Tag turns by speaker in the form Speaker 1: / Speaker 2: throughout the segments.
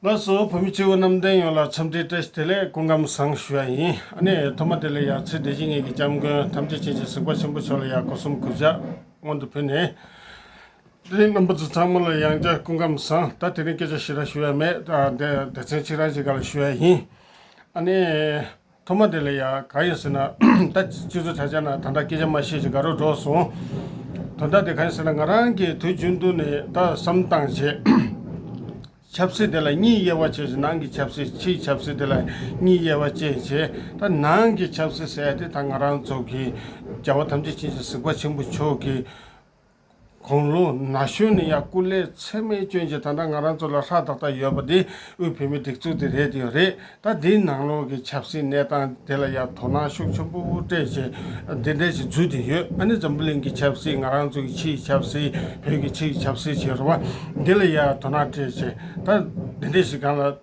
Speaker 1: ལགས་སོ། བུ་མོ་སྐྱེ་བོ་རྣམས་བསྟན་ཡོངས་ལ་འཚམས་འདྲི་བཀྲ་ཤིས་བདེ་ལེགས་སྐུ་ཁམས་བཟང་ཞུ་ཡ་ཡིན་ཨ་ནེ། ཐོག་མ་དེ་ལས་ཡར་ཚེ་འདས་ཇི་སྙེད་ཀྱི་སྐྱབས་མགོན་ཐམས་ཅད་བྱིན་གྱིས་གཟིགས་པ་ཆེན་པོ་མཆོག་ལ་ཡང་སྒོ་གསུམ་གུས་ཕྱག་སྔོན་དུ་ཕུལ་ནས། དེ་རིང་རྣམ་པ་ཚོ་ཚང་མ་ལ་ཡང་བསྐྱར་སྐུ་ཁམས་བཟང་ད་དེ་རིང་སྐད་ཆ་ཞིག་ར་ཞུ་ཡ་མེད་ད་དེ་མཚན་གཅིག་རང་གཅིག་ག་ལ་ཞུ་ཡ་ཡིན་ཨ་ནེ། ཐོག་མ་དེ་ལ་ཡང་ག་ཡོད་ཟེར་ན། ད་ཅི་ཚོད་ཆ་ཆ་ན་ད་ལྟ་སྐད་ཆ་མ་བཤད་ཅིག་དགའ་རོགས་འགྲོགས་སོང། དོན་དག་དེ་ག་ཡིན་ཟེར་ན་ང་རང་གིས་དུས་རྒྱུན་དུ་ནས་ད་བསམ་བཏང་བྱས། ཆབ་སྲིད་དེ་ལ་གཉིས་དབྱེ་བ་བྱས་ཤིང་ནང་གི་ཆབ་སྲིད་ཕྱིའི་ཆབ་སྲིད་དེ་ལ་གཉིས་དབྱེ་བ་བཅས་བྱས། ད་ནང་གི་ཆབ་སྲིད་ཟེར་ཡ་དེ་ད་ང་རང་ཚོ་གིས་རྒྱལ་བ་ཐམས་ཅད་ཆེ་ཞིང་གཟིགས་པ་ཆེན་པོ་མཆོག་གིས། དགུང་ལོ་ན་གཞོན་ནས་ཡང་སྐུ་ལས་ཚད་མེད་སྐྱོན་ཅན་ད་ལྟ་ང་རང་ཚོ་ལ་ཧྲག་ཏག་ཏག་ཡོད་པ་དེ་དབུས་བོད་མིའི་སྒྲིག་འཛུགས་དེ་རེད་དེ་རེད་ད་དེའི་ནང་ལོགས་ཀྱི་ཆབ་སྲིད་གནས་སྟངས་དེ་ལ་ཡང་དོ་སྣང་ཤུགས་ཆེན་པོ་དབུ་སྐྲད་ཅན་འདི་འདྲས་ཤིག་འཛུལ་དེ་ཡོད་ཨ་ནི་འཛམ་བུ་གླིང་གི་ཆབ་སྲིད་ང་རང་ཚོ་གི་ཕྱིའི་ཆབ་སྲིད་བོད་ཀྱི་ཕྱིའི་ཆབ་སྲིད་བྱེད་རུང་བ་འདི་ལ་ཡང་དོ་སྣང་སྤྲད་ཅན་ད་འདི་འདྲས་ཤིག་གང་ལ།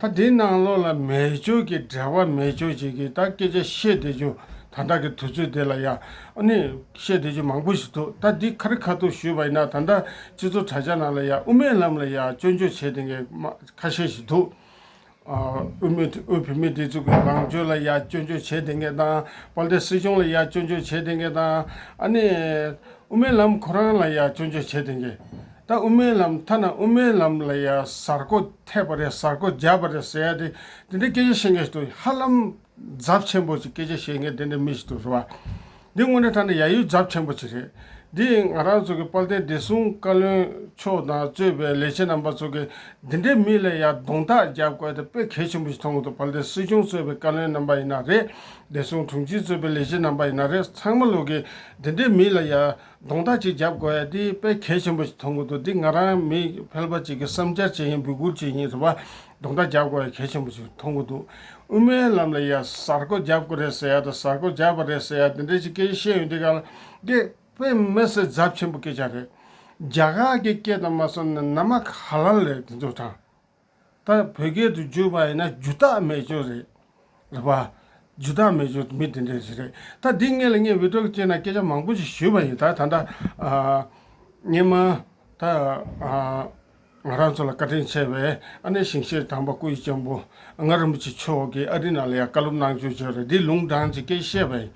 Speaker 1: ད་དེ་ནང་ལོགས་ལ་མེ་སྦྱོར་གྱི་འབྲེལ་བ་མེ་སྦྱོར་བྱེད་ཀྱི་ད་སྐད་ཆ་བཤད་བསྡད་ཆུ་ད་ད་གི་དུས་ཚོད་དེ་ལ་ཡང་ནི་བཤད་བསྡད་ཆུ་མང་པོ་ཞིག་འདུག་ད་འདི་ཁ་རི་ཁ་ཐུག་ཞུས་པ་ཡིན་ན་ད་ད་སྤྱི་ཚོགས་དྲ་རྒྱ་ནང་ལ་ཡང་དབུ་མའི་ལམ་ལ་ཡང་སྐྱོན་བརྗོད་བྱེད་བསྡད་མཁན་མ་ཁ་ཤས་ཞིག་འདུག་དབུས་མི་དབུས་བོད་མི་དེ་ཚོ་གི་ལངས་སྤྱོད་ལ་ཡང་སྐྱོན་བརྗོད་བྱེད་བསྡད་མཁན་དང་དཔལ་ལྡན་སྲིད་སྐྱོང་ལ་ཡང་སྐྱོན་བརྗོད་བྱེད་བསྡད་མཁན་དང་ཨ་ནི་དབུ་མའི་ལམ་ཁོ་རང་ལ་ཡང་སྐྱོན་བརྗོད་བྱེད་བསྡད་མཁན། ད་དབུ་མའི་ལམ་ཐ་ན་དབུ་མའི་ལམ་ལ་ཡང་གཟར་བརྐོ་ཐེབས་པ་རེད་གཟར་བརྐོ་རྒྱབ་པ་རེད་ཟེར་ཡ་དེ་འདི་འདྲའི་སྐད་ཆ་བཤད་མཁན་ཞིག་ཏུ་ཧ་ལམ་རྫབ་ཆེན་པོ་ཅིག་སྐད་ཆ་བཤད་མཁན་དེ་འདྲའི་མི་ཞིག་ཏུ་རེད་བ། འདི་དངོས་གནས་ཐ་ན་ཡ་ཡུལ་རྫབ་ཆེན་པོ་ཅིག་རེད། འདི་ང་རང་ཚོ་གི་དཔལ་ལྡན་བདེ་སྲུང་བཀའ་བློན་མཆོག་དང་གཙོས་པའི་ལས་བྱེད་རྣམ་པ་ཚོ་གི་འདི་འདྲའི་མི་ལ་ཡ་གདོང་ཐག་རྒྱབ་དགོས་ད་དཔེ་གལ་ཆེན་པོ་ཞིག་མཐོང་གི་འདུག་དཔལ་ལྡན་སྲིད་སྐྱོང་གཙོས་པའི་བཀའ་བློན་རྣམ་པ་ཡིན་ན་རེད་བདེ་སྲུང་དྲུང་ཆེ་གཙོས་པའི་ལས་བྱེད་རྣམ་པ་ཡིན་ན་རེད་ཚང་མ་ལོག་གི་འདི་འདྲའི་མི་ལ་ཡ། གདོང་ཐག་ཅིག་རྒྱབ་དགོས་ཡ་འདི་དཔེ་གལ་ཆེན་པོ་ཞིག་མཐོང་གི་འདུག་འདི་ང་རང་མི་ཕལ་པ་ཅིག་གི་བསམ་འཆར་བྱེད་བཞིན་འབུད་སྐུར་བྱེད་བཞིན་རེད་བ། གདོང་ཐག་རྒྱབ་དགོས་ཡ་གལ་ཆེན་པོ་ཞིག་མཐོང་གི་འདུག་དབུ་མའི་ལམ་ལ་ཡ་གཟར་ཀོ་རྒྱབ་དགོས་རེད་ཟེར་ཡ་དང་གཟར་ཀོ་རྒྱབ་པ་རེད་ཟེར་ཡ་འདི་འདྲ་ཅིག་སྐད་ཆ་བཤད་ཡོད་འདི་ག་ལ། འདི་དཔེ་མེད་གསལ་རྫབ་ཆེན་པོ་སྐད་ཆ་རེད། རྒྱ་གར་གྱི་སྐད་དང་མ་སོ་ནི་ནམ་མ་ག་ལ་ལས་དེ་ཚོ་དྲང། ད་བོད་སྐད་དུ་བརྗོད་པ་ཡིན་ན་རྒྱུ་རྟགས་མེད་ཅོ་རེད། རེད་པ། རྒྱུ་རྟགས་མེད་ཅོ་མི་དེ་འདྲས་ཞིག་རེད། ད་འདི་སྔས་ལ་སྔས་བི་ཏྲོག་ཅེས་ན་སྐད་ཆ་མང་པོ་ཞིག་ཞུས་པ་ཡིན་ད་ད་ད། སྔས་མ། ད། ང་རང་ཚོ་ལ་བཀའ་དྲིན་ཆེ་བའི་ཨ་ནེ་ཞིང་ཆེན་དམ་པ་སྐུ་ཡི་གཅེན་པོ་ལྔ་རིན་པོ་ཆེ་མཆོག་གིས་ཨ་རི་ནང་ལ་ཡང་བཀའ་སློབ་གནང་བྱོས་ཅོ་རེད་འདི་ལུང་དྲངས་ཀྱི་སྐད་བཤད་པ་ཡིན།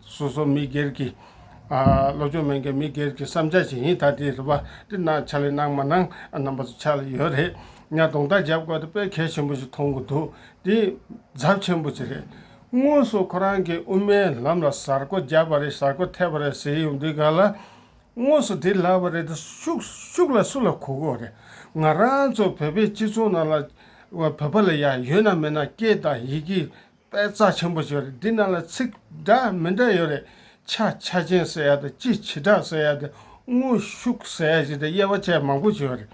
Speaker 1: སོ་སོ་མི་སྒེར་གྱི། སློབ་སྦྱོང་མན་གྱི་མི་སྒེར་གྱི་བསམ་འཆར་ཞིག་ཡིན་ད་དེ་རུ་པ་ཏི་ན་ཆ་ལེ་གནང་མ་གནང་རྣམ་པ་ཚོ་ཆགས་ལ་ཡོད་རེད་སྙ་གདོང་རྟགས་འཇབ་དགོས་ད་དཔེ་གལ་ཆེན་པོ་ཞིག་མཐོང་གི་འདུག་དེ་ཛབ་ཆེན་པོ་ཅིག་རེད། དངོས་སུ་ཁོ་རང་གི་དབུ་མའི་ལམ་ལ་ཟར་རྐོ་བརྒྱབ་པ་རེད་ཟར་རྐོ་ཐེབས་པ་རེད་ཟེར་ཡོང་དུས་ག་ལ། དངོས་སུ་དེ་ལབ་པ་རེད་ད་ཤུགས་ལ་སུ་ལ་གོ་དགོས་རེད་ང་རང་ཚོ་བོད་པའི་སྤྱི་ཚོགས་ནང་ལ་བོད་པ་ལ་ཡ་ཡོད་ན་མེད་ན་སྐད་དང་ཡི་གེ་དཔལ་རྩ་ཆེན་པོ་ཞེས་རེད་འདི་རྣམས་ལ་ཚིག་འདྲ་མི་འདྲ་ཡོད་རེད། ཆ་ཆ་ཅན་ཟེར་ཡ་དང་སྤྱི་བྱེ་བྲག་ཟེར་ཡ་དང་དངོས་ཤུགས་ཟེར་ཡ་ཞེས་དང་དབྱེ་བ་བྱས་མང་པོ་བྱས་ཡོད་རེད།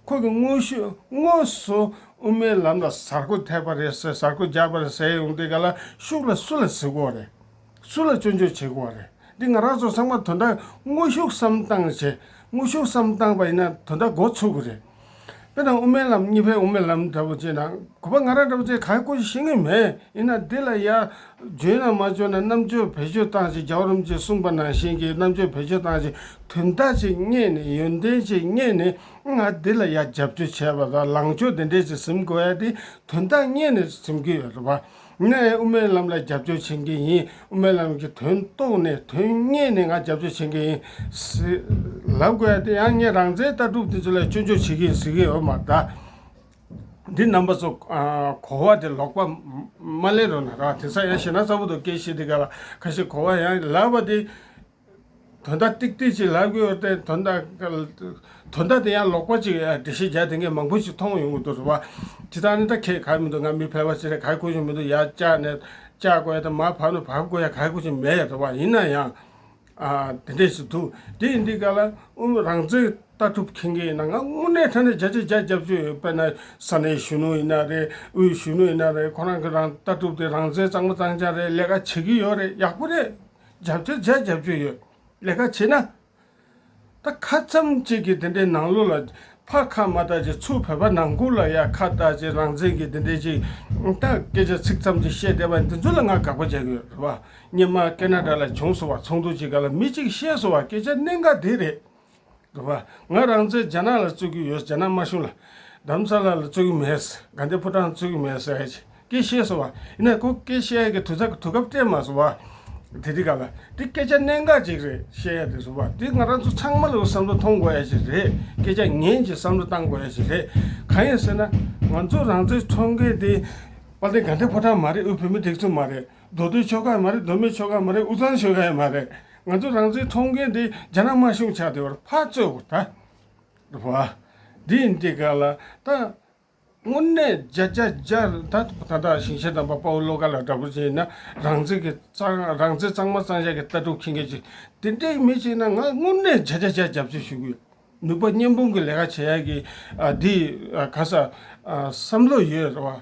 Speaker 1: ཁོང་གིས་དངོས་ཤུགས་དངོས་སུ་དབུ་མའི་ལམ་ལ་ཟར་ཁུ་ཐེབས་པ་རེད་ཟེར་ཟར་ཁུ་རྒྱག་པ་རེད་ཟེར་ཡོང་དེ་ག་ལ་ཤུགས་ལ་སུ་ལ་ཟིག་གོ་རེད། སུ་ལ་སྤྱོད་འཇུག་བྱེད་དགོས་བ་རེད། འདི་ང་རང་ཚོ་ཚང་མ་དོ་འདྲ་དངོས་ཤུགས་སམ་བཏང་བྱས་དངོས་ཤུགས་སམ་བཏང་པ་ཡིན་ན་དོ་འདྲ་འགོ་ཚུགས་གི་རེད། དཔེར་ན་དབུ་མའི་ལམ་གཉིས་ཕན་དབུ་མའི་ལམ་འདྲ་པོ་བྱས་ན་གུས་པ་ང་རང་འདྲ་པོ་ཚོས་ག་རེ་ཀུ་ཅི་ཤེས་ངེས་མེད་ཡིན་ན་འདི་ལ་ཡ། འཇོན་ན་མ་འཇོན་ན་རྣམ་དཔྱོད་བེད་སྤྱོད་བཏང་བྱས་རྒྱ་བོ་རིམ་གྱིས་གསུངས་པ་ནང་བཞིན་གྱི་རྣམ་དཔྱོད་བེད་སྤྱོད་བཏང་བྱས་དོན་དག་ཅིག་རྙེད་ནས་ཡོན་ཏན་ཅིག་རྙེད་ནས་ཨང་ང་འདི་ལ་ཡ་རྒྱབ་སྐྱོར་བྱས་པ་དང་ལངས་ཕྱོགས་འདི་འདྲས་ཅིག་ཟིན་དགོས་ཡ་དེ་དོན་དག་རྙེད་ནས་ཟིན་གྱི་ཡོད་རེད་བ། ངས་དབུ་མའི་ལམ་ལ་རྒྱབ་སྐྱོར་བྱེད་མཁན་ཡིན། དབུ་མའི་ལམ་གྱི་དོན་རྟོགས་ནས་དོན་གཉེར་ནས་ང་རྒྱབ་སྐྱོར་བྱེད་མཁན་ཡིན། ལབ་དགོས་ཡ་དེ་ཡང་ངས་རང་བཙན་ལྟ་གྲུབ་དེ་ཚོ་ལ་སྐྱོན་བརྗོད་བྱེད་མཁན་ཟེར་མཁན་ཡོད་མ་གདའ། འདི་རྣམ་པ་ཚོ་གོ་བ་དེ་ལོག་པ་མ་ལེན་རོགས་གནང་ར་བ་དེ་ཚ་ཡ་ཤེ་ན་ཚ་པོ་འདུག་སྐད་བཤད་དེ་ག་ལ་ཁ་ཤེ་གོ་བ་ཡང་ལབ་བ་དེ་དོན་དག་ཏིག་ཏིག་ཅིག་ལབ་ཀྱི་ཡོད་དེ། དོན་དག་དེ་ཡང་ལོག་པ་ཅིག་རེད་འགྲེལ་བཤད་བརྒྱ་དེ་འགའི་མང་པོ་ཞིག་མཐོང་ཡོང་གི་འདུག་བཟོ་པ། འདི་དག་ནི་ད་ཁེད་ག་མི་འདུག་ང་མི་ཕལ་བ་ཞིག་རེད་ག་དགོས་ཀྱི་མི་འདུག་ཡར་བཅག་ནས་བཅག་དགོས་ཡ་དེ་མར་བབས་ནས་བབས་དགོས་ཡ་ག་དགོས་ཀྱི་མེད་བཟོ་བ། ཡིན་ན་ཡང། དེ་འདྲས་ཞིག་འདུག་དེ་ཡིན་དུས་ག་ལ་ཨུ་མི་རང་བཙན་ལྟ་གྲུབ་མཁྱེན་མཁན་ཡིན་ན་ང་དངོས་གནས་ཐ་ན་བརྒྱ་ཆ་བརྒྱ་རྒྱབ་ཀྱི་ཡོད་དཔེར་ན་ས་གནས་གཞོན་ནུ་ཡིན་ན་རེད་དབུས་གཞོན་ནུ་ཡིན་ན་རེད་ཁོ་རང་གི་རང་ལྟ་གྲུབ་དེ་རང་བཙན་གཙང་མ་གཙང་ཆག་རེད་ལས་ཀ་བྱེད་ཀྱི་ཡོད་རེད་ཡག་པོ་རེད། རྒྱབ་སྐྱོར་བྱས་རྒྱབ་སྐྱོར་ཡོད། ལས་ཀ་བྱེད་ན། ད་ཁ་ཙམ་གཅིག་གིས་འདི་འདྲའི་ནང་ལོག་ལ། ཕ་ཁ་མ་ལྟ་ཅིག་ཚུར་བོད་པ་ནང་ཁུལ་ལ་ཡ་ཁ་ལྟ་ཅིག་རང་བཙན་གྱིས་འདི་འདྲའི་ཅིག། ད་སྐད་ཆ་ཚིག་ཙམ་གཅིག་བཤད་བསྡད་པ་འདི་ཚོ་ལ་ང་དགག་པ་བྱས་གི་ཡོད་རེད་བ། ཉི་མ་ཀེ་ན་ཏྲ་ལ་བྱུང་སོང་བ་ཚོགས་འདུ་གཅིག་ག་ལ་མི་གཅིག་གིས་བཤད་སོང་བ་སྐད་ཆ་གནད་འགག་འདི་རེད། དགོས་པ། ང་རང་ཚོས་རྒྱ་ནག་ལ་རྩོད་ཀྱི་ཡོད་རྒྱ་ནག་དམར་གཞུང་ལ། དམ་ཚ་ལ་ལ་རྩོད་ཀྱི་མེད། དགའ་ལྡན་ཕོ་བྲང་ལ་རྩོད་ཀྱི་མེད། ཀེ་ཤེས་སོ་བ། ཡིན་ན་ཁོ་ཀེ་ཤེས་ཀྱི་དུས་ཚག་དུས་སྐབས་སྤྲད་མ་སོ་བ། དེ་དེ་ག་ལ། དེ་སྐད་ཆ་གནད་འགག་ཅིག་རེད་བཤད་ཡ་དེ་སོ་བ། དེ་ང་རང་ཚོ་ཚང་མ་ལ་བསམ་བློ་ཐོངས་དགོས་ཡ་ཞིག་རེད། སྐད་ཆ་ངན་གྱི་བསམ་བློ་བཏང་དགོས་ཡ་ཞིག་རེད། གང་ཡིན་ཟེར་ན། ང་ཚོ་རང་ཚོའི་ཚོང་སྐད་དེ། དཔལ་ལྡན་དགའ་ལྡན་ཕོ་བྲང་མ་རེད་དབུས་བོད་མི་དེག་ཚོ་མ་རེད། མདོ་སྟོད་ཆོལ་ཁ་ཡང་མ་རེད་མདོ་སྨད་ཆོལ་ཁ་ཡང་མ་རེད་དབུས་གཙང་ཆོལ་ཁ་ཡང་མ་རེད་ང་ཚོ་རང་བཙན་ཐོབ་མཁན་དེ་རྒྱ་ནག་དམར་གཞུང་ཆགས་དེ་བར་ཕར་རྩོད་དགོས་ད། འགྲོ་བ། དེ་ཡིན་དེ་ག་ལ་ད། དངོས་གནས་རྒྱ་རྒྱ་རྒྱ་ད་ད་ལྟ་ཞིང་ཆེན་དམ་པ་དཔའ་བོ་བློ་དགའ་ལགས་འདྲ་བོ་ཅིག་ཡིན་ན་རང་བཙན་གྱི་གཙང་རང་བཙན་གཙང་མ་གཙང་ཞབས་ཀྱི་ལྟ་གྲུབ་མཁྱེན་མཁན་ཅིག་དེ་འདྲའི་མི་ཞིག་ན་ང་དངོས་གནས་རྒྱ་རྒྱ་རྒྱ་རྒྱབ་སྐྱོར་ཞུ་གི་ཡོད། ནུས་པ་བརྙན་ཕུང་གི་ལས་ཀ་བྱེད་ཡག་གི་འདི་ག་ས་བསམ་བློ་ཡོད་རེད་བ།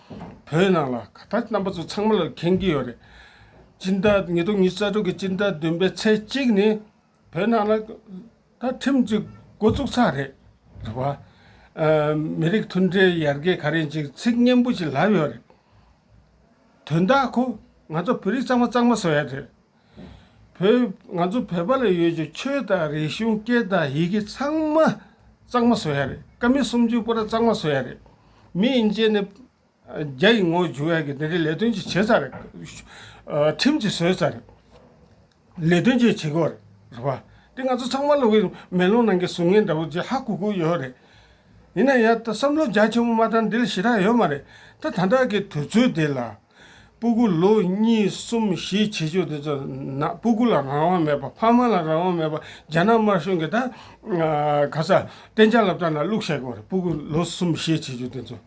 Speaker 1: བོད་ནང་ལ་ག་ད་རྣམ་པ་ཚོ་ཚང་མ་ལ་མཁྱེན་གྱི་ཡོད་རེད། སྤྱི་ཟླ་ཉིས་སྟོང་ཉིས་རྩ་དྲུག་གི་སྤྱི་ཟླ་བདུན་པའི་ཚེས་གཅིག་ནི་བོད་ནང་ལ་ད་ཁྲིམས་གཅིག་འགོ་བཙུགས་ཚར་རེད། རེད་བ། མི་རིགས་མཐུན་སྒྲིལ་ཡར་རྒྱས་ག་རེ་ཅིག་ཚིག་སྙན་པོ་ཞིག་ལབ་ཡོད་རེད། དོན་དག་གོ་ང་ཚོ་བོད་རིགས་གཙང་མ་གཙང་མ་བཟོ་ཡ་རེད། བོད། ང་ཚོ་བོད་པ་ལ་ཡོད་ཀྱི་ཆོས་དང་རིག་གཞུང་སྐད་དང་ཡི་གེ་ཚང་མ་གཙང་མ་བཟོ་ཡ་རེད་ཀ་མི་སུམ་ཅུ་པོ་ར་གཙང་མ་བཟོ་ཡ་རེད། མི་ཡིན་ཅན་ནི་རྒྱ་ཡི་ངོ་བྱུག་ཡ་གི་དེ་འདྲའི་ལས་དོན་ཅིག་བྱེད་ས་རེད། ཁྲིམས་ཅིག་བཟོས་ས་རེད། ལས་དོན་ཅིག་བྱེད་དགོས་རེད་བ། དེ་ང་ཚོ་ཚང་མ་ལ་འི་མེ་ལོང་ནང་གི་ཟུར་ངན་འདྲ་བོ་ཅིག་ཧ་གོ་གོ་ཡོད་རེད། ཡིན་ན་ཡང་ད་བསམ་བློ་རྒྱ་ཆེན་པོ་མ་བཏང་འདི་ལ་ཞེ་དྲག་ཡོད་མ་རེད། ད་ད་ལྟ་གི་དུས་ཚོད་འདི་ལ། སྤུ་གུ་ལུགས་གཉིས་གསུམ་བཞི་བྱེད་ཆོས་དེ་ཚོ་ན་སྤུ་གུ་ལ་རང་དབང་མེད་པ་ཕ་མ་ལ་རང་དབང་མེད་པ་རྒྱ་ནག་དམར་གཞུང་གིས་ད་ག་ས་གཏན་འཇགས་ལ་བཏང་ན་བླུགས་བཤད་དགོས་རེད་སྤུ་གུ་ལོ་གསུམ་བཞི་བྱེད་ཆོས་དེ་ཚོ།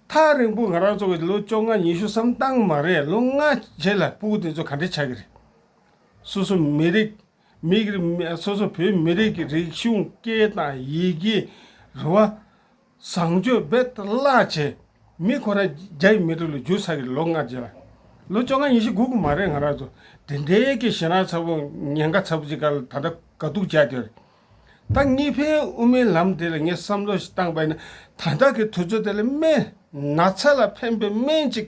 Speaker 1: ཐག་རིང་པོ་ང་རང་ཚོ་གིས་ལོ་བཅོ་ལྔ་ཉི་ཤུ་བསམ་བཏང་མ་རེད་ལོ་ལྔ་རྗེས་ལ་སྤུ་གུ་དེ་ཚོ་ག་འདྲས་ཆགས་ཀྱི་རེད། སོ་སོ་མི་རིགས་མིག་རིགས་སོ་སོ་བོད་མི་རིགས་ཀྱི་རིག་གཞུང་སྐད་དང་ཡི་གེ་རེད་བ། བཟང་སྤྱོད་འབད་བརླག་བྱས། མི་ཁོ་ན་བརྒྱ་ཡི་མི་ཏྲི་ལོ་རྒྱུ་ས་ཀྱི་ལོ་ལྔ་རྗེས་ལ། ལོ་བཅོ་ལྔ་ཉི་ཤུ་དགུ་དགུ་མ་རེད་ང་རང་ཚོ་དེ་འདྲའི་ཀྱི་ཞེ་སྣང་ཚ་པོ་ཉེན་ཁ་ཚ་པོ་ཅིག་ཀ་ལ་ད་ལྟ་དགའ་སྡུག་བྱས་དེར། ད་གཉིས་ཕན་དབུ་མའི་ལམ་དེ་ལ་ངས་བསམ་བློ་ཞིག་བཏང་པས་ན་ད་ལྟ་ཀྱི་དུས་ཚོད་དེ་ལ་སྨན་ན་ཚ་ལ་ཕན་པའི་སྨན་ཅིག་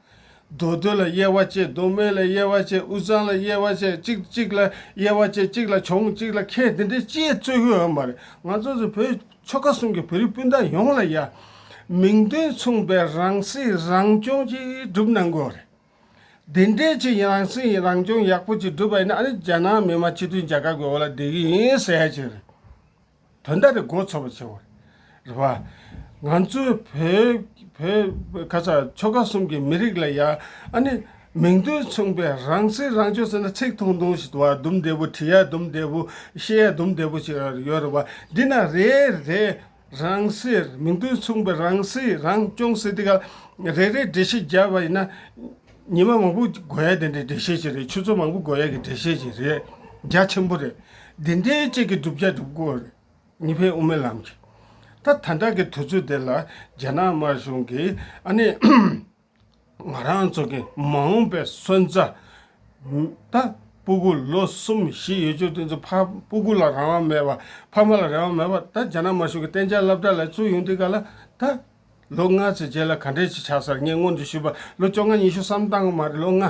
Speaker 1: རྡོ་རྡོ་ལ་དབྱེ་བ་བཅས་རྡོ་སྨད་ལ་དབྱེ་བ་བཅས་དབུས་གཙང་ལ་དབྱེ་བ་བཅས་གཅིག་གཅིག་ལ་དབྱེ་བ་བཅས་གཅིག་ལ་བྱུང་གཅིག་ལ་ཁེལ་འདི་འདྲའི་དཔྱད་རྩོད་ཡོད་ཨེ་མ་རེད་ང་ཚོ་ཚོ་བོད་ཆོལ་ཁ་གསུམ་གྱི་བོད་རིགས་སྤུན་ཟླ་ཡོངས་ལ་ཡ། མིང་དོན་མཚུངས་པའི་རང་སྲིད་རང་སྐྱོང་ཅིག་བསྒྲུབ་གནང་དགོས་རེད། འདི་འདྲའི་ཆེ་ཡིན་རང་སྲིད་རང་སྐྱོང་ཡག་པོ་ཅིག་བསྒྲུབ་པ་ཡིན་ན་ཨ་ནི་རྒྱ་ནག་མི་དམངས་སྤྱི་མཐུན་རྒྱལ་ཁབ་ཀྱི་འོག་ལ་བསྡད་གི་ཡིན་ཟེར་ཡ་ཅིག་རེད། དོན་དག་རེ་འགོ་ཚོགས་པ་ཆེ་བར་རེ་བ། ང་ཚོའི་བོད་ཁ་ས་ཆོལ་ཁ་གསུམ་གྱི་མི་རིགས་ལ་ཡ་ཨ་ནི་མིང་དོན་མཚུངས་པའི་རང་སྲིད་རང་སྐྱོང་ཟེར་ན་ཚིག་ཐུང་ཐུང་ཞིག་དུ་བ་དུམ་བདེ་པོ་བྲི་ཡ་དུམ་བདེ་པོ་ཤེས་ཡ་དུམ་བདེ་པོ་ཞིག་ཡོད་རེ་བ་འདི་ན་རེ་རེ་རང་སྲིད་མིང་དོན་མཚུངས་པའི་རང་སྲིད་རང་སྐྱོང་ཟེར་དུས་ཀ་རེ་རེ་འབྲི་ཤེས་རྒྱ་བ་ཡིན་ན། ཉི་མ་མང་པོ་འགོར་ཡ་དེ་འདྲའི་འགྲེལ་བཤད་ཅིག་རེད་ཆུ་ཚོད་མང་པོ་འགོར་ཡ་གི་འགྲེལ་བཤད་ཅིག་རེད་རྒྱ་ཆེན་པོ་རེད། འདི་འདྲའི་དཔྱད་ཀྱི་སྒྲུབ་བྱ་སྒྲུབ་དགོས་རེད་ཉི་ཕན་དབུ་མའི་ལམ་གྱི། ད་ད་ལྟ་གི་དུས་ཚོད་དེ་ལ་རྒྱ་ནག་དམར་གཞུང་གིས་ཨ་ནི། ང་རང་ཚོ་གི་མ་འོངས་པའི་སོན་རྩ། ད་སྤུ་གུ་ལོ་གསུམ་བཞི་ཡོད་ཆོག་དེ་ཚོ་ཕ་སྤུ་གུ་ལ་རང་དབང་མེད་པ་ཕ་མ་ལ་རང་དབང་མེད་པ་ད་རྒྱ་ནག་དམར་གཞུང་གི་གཏན་འཇགས་བསླབ་གྲྭ་ལ་བཙུགས་ཡོང་དུས་ག་ལ་ད། ལོ་ལྔ་ཚོའི་རྗེས་ལ་ག་འདྲས་ཅིག་ཆགས་སར་ངས་སྔོན་དུ་ཞུས་པ་ལོ་བཅོ་ལྔ་ཉི་ཤུ་བསམ་སྟངས་མ་རེད་ལོ་ལྔ་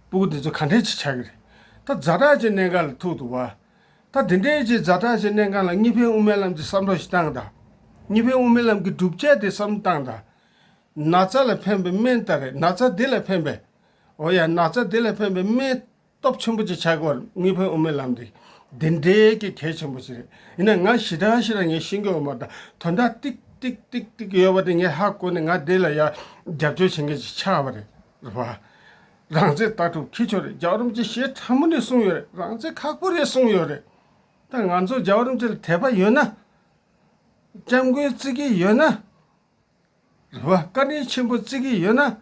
Speaker 1: པོ་དེ་ཚོ་ག་འདྲས་ཅིག་ཆགས་ཀྱི་རེད། ད་རྫ་བྲག་ཅེས་གནས་འགའ་ལ་ཐུག་འདུག་བ། ད་དེ་འདྲའི་རྗེས་རྫ་བྲག་ཅེས་གནས་འགའ་ལ་གཉིས་ཕན་དབུ་མའི་ལམ་གྱི་བསམ་བློ་ཞིག་བཏང་དང། གཉིས་ཕན་དབུ་མའི་ལམ་གྱི་སྒྲུབ་བྱེད་དེ་བསམ་བཏང་དང། ན་ཚ་ལ་ཕན་པའི་སྨན་ལྟར་རེད་ན་ཚ་དེ་ལ་ཕན་པའི། འོ་ཡ་ན་ཚ་དེ་ལ་ཕན་པའི་སྨན། སྟོབས་ཆེན་པོ་ཅིག་ཆགས་དགོས་རེད་དངུལ་བུན་དབུ་མའི་ལམ་འདི་འདི་འདྲའི་གི་གལ་ཆེན་པོ་ཞིག་རེད་ཡིན་ན་ང་ཞི་དྲག་ཞིག་ལ་ངས་ཤི་འགྱོ་མ་ད་དོན་དག་ཏིག་ཏིག་ཏིག་ཏིག་ཡོད་པ་དེ་ངས་ཧ་གོ་ནས་ང་དེ་ལ་ཡ་རྒྱབ་སྐྱོར་བྱེད་མཁན་ཞིག་ཆགས་པ་རེད་བ། རང་བཙན་ལྟ་གྲུབ་འཁྱིལ་ཆོག་རེད་རྒྱ་རོམ་གྱི་ཞེ་ཕྲ་མོ་ནས་གསུངས་ཡོད་རེད་རང་བཙན་ཁག་པོ་རེད་གསུངས་ཡོད་རེད་ད་ང་ཚོ་རྒྱ་རོམ་གྱི་ལ་དད་པ་ཡོད་ན། སྐྱབས་མགོན་བརྩི་གི་ཡོད་ན། རེད་བ། བཀའ་དྲིན་ཆེན་པོ་བརྩི་གི་ཡོད་ན།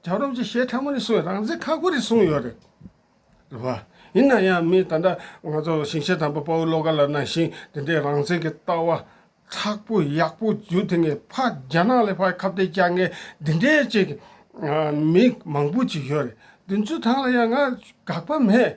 Speaker 1: རྒྱ་རོབ་ཀྱི་གཞས་ཕྲ་མོ་ནི་སུའི་རང་བཙན་ཁག་པོ་རེད་གསུངས་ཡོད་རེད་བ། ཡིན་ན་ཡང་མི་ད་ལྟ་ང་ཚོ་ཞིང་ཆེན་དང་པོ་དཔའ་བོ་བློ་དགའ་ལགས་ནང་བཞིན་དེ་འདྲའི་རང་བཙན་གྱི་ལྟ་བ་ཁག་པོ་ཡག་པོ་རྒྱུ་དེ་ངས་ཕ་རྒྱ་ནག་ལས་ཕ་ཁབ་ཏེ་ཀྱང་ངས་འདི་འདྲའི་ཅིག་མི་མང་པོ་ཅིག་ཡོད་རེད་འདི་ཚོའི་ཐང་ལ་ཡང་ང་དགག་པ་མེད།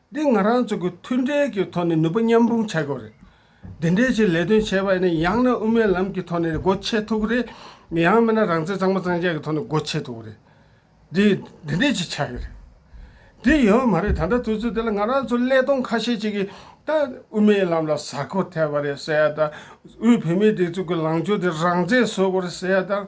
Speaker 1: འདི་ང་རང་ཚོ་གི་མཐུན་འབྲེལ་གྱི་ཐོག་ནས་ནུས་པ་མཉམ་སྤུངས་བྱ་དགོས་རེད། འདི་འདྲའི་ཆེད་ལས་དོན་བྱས་པ་ནི་ཡང་ན་དབུ་མའི་ལམ་གྱི་ཐོག་ནས་སྒོ་ཕྱེ་ཐུབ་ཀྱི་རེད། ཡང་མིན་ན་རང་བཙན་གཙང་མ་གཙང་བཅད་ཀྱི་ཐོག་ནས་སྒོ་ཕྱེ་ཐུབ་ཀྱི་རེད། འདི་འདི་འདྲའི་ཆེད་བྱ་གི་རེད། འདི་ཡོད་མ་རེད་ད་ལྟ་དུས་ཚོད་འདི་ལ་ང་རང་ཚོ་ཀླད་སྟོང་ཁ་ཤས་ཅིག་གིས་ད་དབུ་མའི་ལམ་ལ་གཟར་འཁོར་ཐེབས་པ་རེད་ཟེར་ཡ་དང་དབུས་བོད་མིའི་སྒྲིག་འཛུགས་ཀྱི་ལངས་ཕྱོགས་འདི་རང་བཙན་བཟོ་དགོས་རེད་ཟེར་ཡ་དང།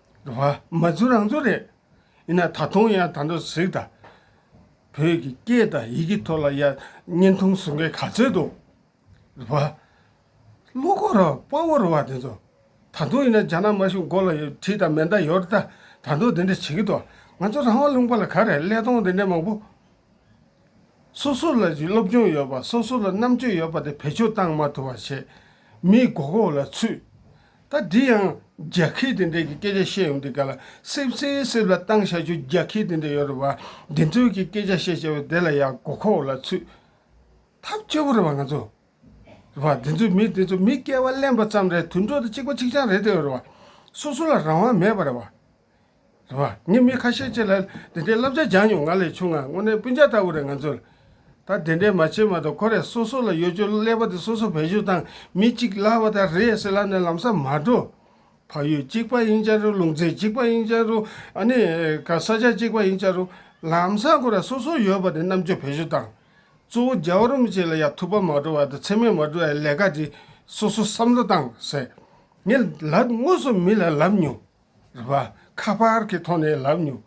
Speaker 1: རེད། མ་ཚུར་རང་ཚུར་རེད། ཡིན་ན་ད་དུང་ཡང་དང་དུ་གཟིགས་དང། བོད་ཀྱི་སྐད་དང་ཡི་གེ་ཐོག་ལ་ཡང་བརྙན་ཐུང་བཟོ་མཁན་ག་ཚོད་འདུག་རེད། བློ་ཁོ་ར་དཔའ་བོ་རེད་བ་དེ་ཚོ། ད་དུང་ཡིན་ན་རྒྱ་ནག་དམར་གཞུང་མགོ་ལ་གྲི་དང་མེ་མདའ་ཡོད་ད་ད་དུང་དེ་འདྲ་བྱེད་ཀྱི་འདུག་ང་ཚོ་རང་དབང་ལུང་པ་ལ་ག་རེ་ཀླད་སྟོང་དེ་འདྲ་མང་པོ། སོ་སོ་ལ་སློབ་སྦྱོང་ཡོད་པ་སོ་སོ་ལ་རྣམ་དཔྱོད་ཡོད་པ་དེ་བེད་སྤྱོད་བཏང་མ་ཐུབ་པ་བྱས། མིའི་མགོ་སྐོར་ལ་ཚུད། ད་འདི་ཡང་རྒྱ་ཁྱི་དེ་འདྲས་ཀྱི་སྐད་ཆ་བཤད་ཡོང་དུས་ག་ལ་སིབ་སིབ་སིབ་ལ་བཏང་བཞག་ཆུ་རྒྱ་ཁྱི་དེ་འདྲས་ཡོད་རེད་བ། འདི་ཚོའི་གི་སྐད་ཆ་བཤད་བྱས་བས་དེ་ལ་ཡང་མགོ་ཁོག་ལ་ཚུད། ཐབས་སྐྱོ་བོ་རེད་བ་ང་ཚོ། རེད་བ། འདི་ཚོའི་མི་དེ་ཚོ་མི་སྐལ་བ་གླེན་པ་ཙམ་རེད་དུད་འགྲོ་དང་གཅིག་པ་གཅིག་རྐྱང་རེད་དེ་ཡོད་རེད་བ། སོ་སོ་ལ་རང་དབང་མེད་པ་རེད་བ། རེད་བ། ངས་མི་ཁ་ཤས་ཅིག་ལ་དེ་འདྲའི་བསླབ་བྱ་སྦྱངས་མྱོང་ང་ལས་ཆུང་ང་དངོས་གནས་སྤུན་ཆ་ལྟ་བུ་རེད་ང་ཚོས་ད་དེ་འདྲའི་མ་བྱེད་མ་ཐག་ཁོ་རེ་སོ་སོ་ལ་ཡོད་ཆོས་ཀླད་པ་དེ་སོ་སོ་བེད་སྤྱོད་དང་མི་གཅིག་ལ་བ་དང་རེད་ཟེར་ལབ་ནས་ལམ་ས་མ་འགྲོ། བག་ཡོད་གཅིག་པ་ཡིན་ཅག་རུང་ལུང་ཚན་གཅིག་པ་ཡིན་ཅག་རུང་ཨ་ནི་ག་ས་ཆ་གཅིག་པ་ཡིན་ཅག་རུང་ལམ་ས་ཁོ་ར་སོ་སོ་ཡོད་བ་དེ་རྣམ་དཔྱོད་བེད་སྤྱོད་དང། གཙོ་བོ་རྒྱ་བ་རུམ་བཅས་ལ་ཡ་ཐུབ་པ་མ་འགྲོ་བ་དང་ཚེགས་མེད་མ་འགྲོ་བའི་ལས་ཀ་དེ་སོ་སོ་བསམ་བློ་བཏང་ཟེར། ངས་ལབ་དངོས་སུ་མི་ལ་ལབ་མྱོང། རེད་པ་ཁ་པར་གྱི་ཐོག་ནས་ལབ་མྱོང།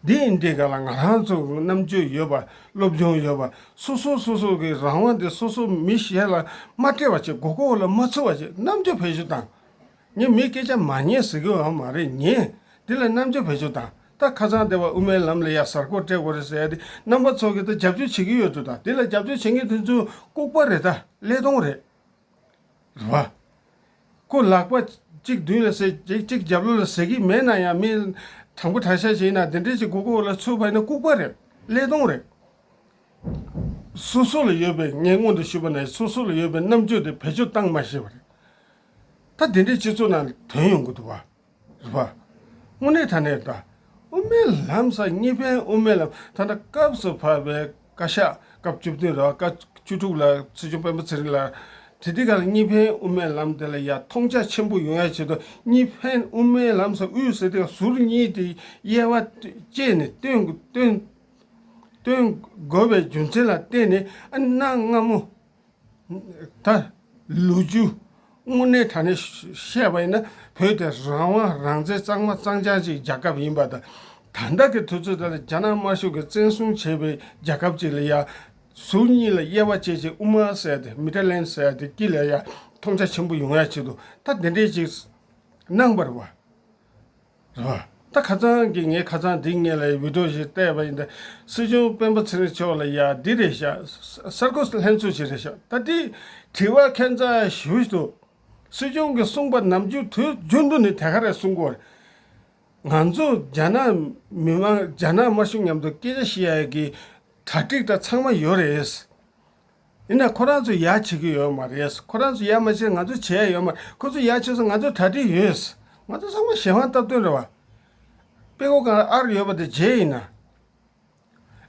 Speaker 1: འདི་ཡིན་འདི་ག་ལ་ང་རང་ཚོར་རྣམ་དཔྱོད་ཡོད་པ་སློབ་སྦྱོང་ཡོད་པ་སོ་སོ་སོ་སོ་གི་རང་དབང་དེ་སོ་སོ་མི་གཞན་ལ་མ་སྤྲད་པ་བཅས་གོ་གོ་ལ་མ་ཚུད་པ་བཅས་རྣམ་དཔྱོད་བེད་སྤྱོད་དང། ངས་མིའི་སྐད་ཆ་མ་ཉན་ཟེར་གི་འང་མ་རེད་ངས་འདི་ལ་རྣམ་དཔྱོད་བེད་སྤྱོད་དང་ད་ཁ་སང་སྡེ་བ་དབུ་མའི་ལམ་ལ་ཡ་གཟར་གོ་སྤྲད་གོ་རེད་ཟེར་ཏེ་རྣམ་པ་ཚོ་གི་ད་རྒྱབ་སྐྱོར་བྱེད་ཀྱི་ཡོད་དུ་དང་འདི་ལ་རྒྱབ་སྐྱོར་བྱེད་མཁན་དེ་ཚོའི་ལྐུགས་པ་རེད་ད་ཀླད་སྟོང་རེད། རོ། སྐུ་ལག་པ་གཅིག་མདུན་ལ་གསལ། གཅིག་རྒྱབ་ལོགས་ལ་གསལ་གྱི་མེད་ན་ཡང་མི། དང་པོ་དྲག་ཤ་བྱས་ན་དེ་འདྲའི་གཅིག་སྒོ་ཁོག་ལ་ཚུད་པ་ནི་ལྐུགས་པ་རེད། ཀླད་སྟོང་རེད། སོ་སོ་ལ་ཡོད་པའི་ངས་མངོན་དུ་ཞུས་པ་ན་སོ་སོ་ལ་ཡོད་པའི་རྣམ་དཔྱོད་དེ་བེད་སྤྱོད་བཏང་མ་ཤེས་པ་རེད། ད་དེ་འདྲའི་སྤྱི་ཚོགས་ནང་དོན་ཡོང་གི་འདུག་བ། རུ་བ། སྔོན་གནས་ཐ་ནས་དང། དབུ་མའི་ལམ་ས་གཉིས་པའི་དབུ་མའི་ལམ་ཐ་ན་སྐབས་སུ་བབས་པའི་བཀའ་ཤག་སྐབས་བཅུ་བདུན་ར་བ་བཀའ་བཅུ་དྲུག་ལ་སྲིད་སྐྱོང་སྤེན་པ་ཚེ་རིང་ལགས་དེ་དུས་ཀར་གཉིས་ཕན་དབུ་མའི་ལམ་དེ་ལ་ཡ་མཐོང་ཆ་ཆེན་པོ་ཡོང་ཡ་བྱེད་དོ་གཉིས་ཕན་དབུ་མའི་ལམ་ས་དབུས་སུ་དེ་ཟུར་གཉིས་དེ་དབྱེ་བ་བཅད་ནས་སྟོན་སྟོན་དགོས་པའི་རྒྱུ་མཚན་ལ་བརྟེན་ནས་ཨ་གནའ་སྔ་མོ་ད། ལོ་རྒྱུས་དངོས་གནས་ད་ནས་བཤད་པ་ཡིན་ན་བོད་དེ་རང་དབང་རང་བཙན་གཙང་མ་གཙང་རྐྱང་གཅིག་རྒྱལ་ཁབ་ཡིན་པ་དང། ད་ལྟ་གི་དུས་ཚོད་འདི་ལ་རྒྱ་ནག་དམར་ཤོག་གིས་བཙན་བཟུང་བྱས་པའི་རྒྱལ་ཁབ་ཅིག་ལ་ཡང། ཟུར་གཉིས་ལ་དབྱེ་བ་བྱེད་ཅིང་དབུ་མ་བསལ་ཏེ་མི་ཏྲ་ལན་བསལ་ཏེ་སྐྱིད་ལ་ཡང་མཐོང་ཆ་ཆེན་པོ་ཡོང་ཡ་བྱེད་དོ་ད་འདི་འདྲའི་ཅིག། སྣང་བར་བ། རེད་བ། ད་ཁ་ཚང་གི་ངའི་ཁ་ཚང་འདི་ངེད་ལ་ཡི་བི་ཏོ་ཞིག་བལྟས་པ་ཡིན་ད་སྲིད་སྐྱོང་སྤེན་པ་ཚེ་རིང་མཆོག་ལ་ཡ་འདི་རེད་ཤག་གསར་འགོད་ལྷན་ཚོགས་ཞིག་རེད་ཤག་ད་དེ་དྲི་བ་ཁན་ཚ་ཞུ་ཞུ་དུ། སྲིད་སྐྱོང་གི་གསུངས་པ་ནམ་རྒྱུན་དུས་རྒྱུན་དུ་ནི་དེ་ག་རེ་གསུངས་གོ་རེད། ང་ཚོ་རྒྱ་ནག་མི་དམངས་རྒྱ་ནག་དམར་གཞུང་མཉམ་དུ་སྐད་ཆ་བཤད་ཡ་གི་གྲ་སྒྲིག་ད་ཚང་མ་ཡོད་རེད། ཡིན་ན་ཁོ་རང་ཚོ་ཡག་བྱེད་ཀྱི་ཡོད་མ་རེད། ཁོ་རང་ཚོ་ཡག་མ་བྱེད་ང་ཚོ་བྱས་ཡོད་མ་རེད། ཁོ་ཚོ་ཡག་བྱས་ཚོ་ང་ཚོ་གྲ་སྒྲིག་ཡོད། ང་ཚོ་ཚང་མ་གཞན་དབང་སྟབས་བསྟུན་རེད་བ། དཔེ་ཁོ་གང་ཨར་ཡོད་པ་དེ་བརྗེད་ཡིན་ན།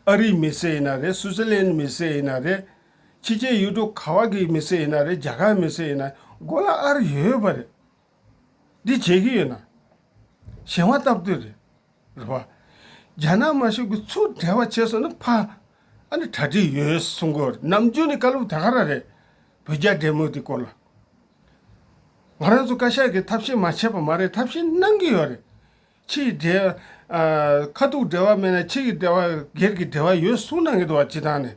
Speaker 1: ཨ་རིའི་མི་སེར་ཡིན་ན་རེད་སུའུ་ཙི་ལན་མི་སེར་ཡིན་ན་རེད། ཕྱི་རྒྱལ་ཡུལ་གྲུ་ག་བ་གི་མི་སེར་ཡིན་ན་རེད་རྒྱ་གར་མི་སེར་ཡིན་ན་མགོ་ལ་ཨར་ཡོད་པ་རེད། འདི་བརྗེད་ཀྱི་ཡོད་ན། གཞན་དབང་སྟབས་བསྟུན་རེད། རེད་བ། རྒྱ་ནག་མ་ཞུགས་གི་ཚུར་བྲེལ་བ་བྱས་སོང་ན་ཕ། ཨ་ནི་གྲ་སྒྲིག་ཡོད་གསུང་གི་ནམ་རྒྱུན་ནི་བཀའ་སློབ་དེ་ག་ར་རེད། བོད་རྒྱ་འབྲེལ་མོལ་དེ་སྐོར་ལ། ང་རང་ཚོ་བཀའ་ཤག་གི་ཐབས་ཤེས་མ་བྱས་པ་མ་རེད་ཐབས་ཤེས་གནང་གི་ཡོད་རེད། ཕྱི་ཡི་འབྲེལ། ཁ་ཐུག་འབྲེལ་བ་མེད་ན་ཕྱི་གི་འབྲེལ་བ་སྒེར་གི་འབྲེལ་བ་ཡོད་གསུང་གནང་གི་འདུག་བ་ཇི་ལྟར་ནས།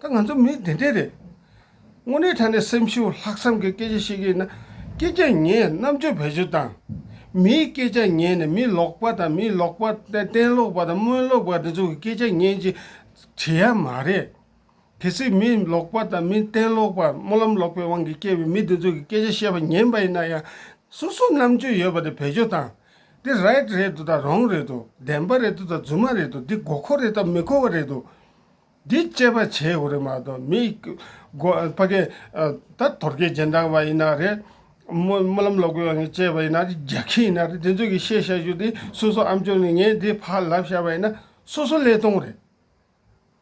Speaker 1: ད་ང་ཚོ་མི་དེ་འདྲས་རེད། དངོས་གནས་ད་ནས་སེམས་ཤུགས་ལྷག་བསམ་གྱི་སྐད་ཆ་ཤེས་ཀྱི་ཡིན་ན། སྐད་ཆ་ཉན་རྣམ་དཔྱོད་བེད་སྤྱོད་དང། མིའི་སྐད་ཆ་ཉན་ནས་མི་ལོག་པ་དང་མི་ལོག་པ། གཏན་ལོག་པ་དང་སྨོན་ལོག་པ་འདི་ཚོ་གི་སྐད་ཆ་ཉན་ཅིག་བྱེད་ཡ་མ་རེད། གལ་སྲིད་མི་ལོག་པ་དང་མི་གཏན་ལོག་པ་སྨོན་ལམ་ལོག་པའི་དབང་གིས་སྐྱེས་པའི་མི་འདི་ཚོ་གི་སྐད་ཆ་བཤད་པ་ཉན་པ་ཡིན་ན་ཡང། སོ་སོ་རྣམ་དཔྱོད་ཡོད་པ་དེ་བེད་སྤྱོད་དང། འདི་རེད་དང་རོང་རེད་དང་བདེན་པ་རེད་དང་རྫུན་མ་རེད་དང་འདི་མགོ་འཁོར་རེད་དང་མི་མཁོ་བ་རེད་དང། འདི་དཔྱད་པ་བྱས་ཡོད་རེད་མ་གཏོགས་མི་དགོ་ཕ་གི་ད་དོར་རྒྱལ་རྗེས་འབྲང་བ་ཡིན་ན་རེད། སྨོན་སྨོན་ལམ་ལོག་པའི་ངས་དཔྱད་པ་ཡིན་ན་རེད་རྒྱག་ཁྱི་ཡིན་ན་རེད་དེ་ཚོས་གི་ཤེས་བྱ་རྒྱུ་དེ་སོ་སོ་ཨམ་ཅོག་ནས་ངས་འདི་ཕ་ལབ་བཞག་པ་ཡིན་ན་སོ་སོ་ཀླད་སྟོང་རེད།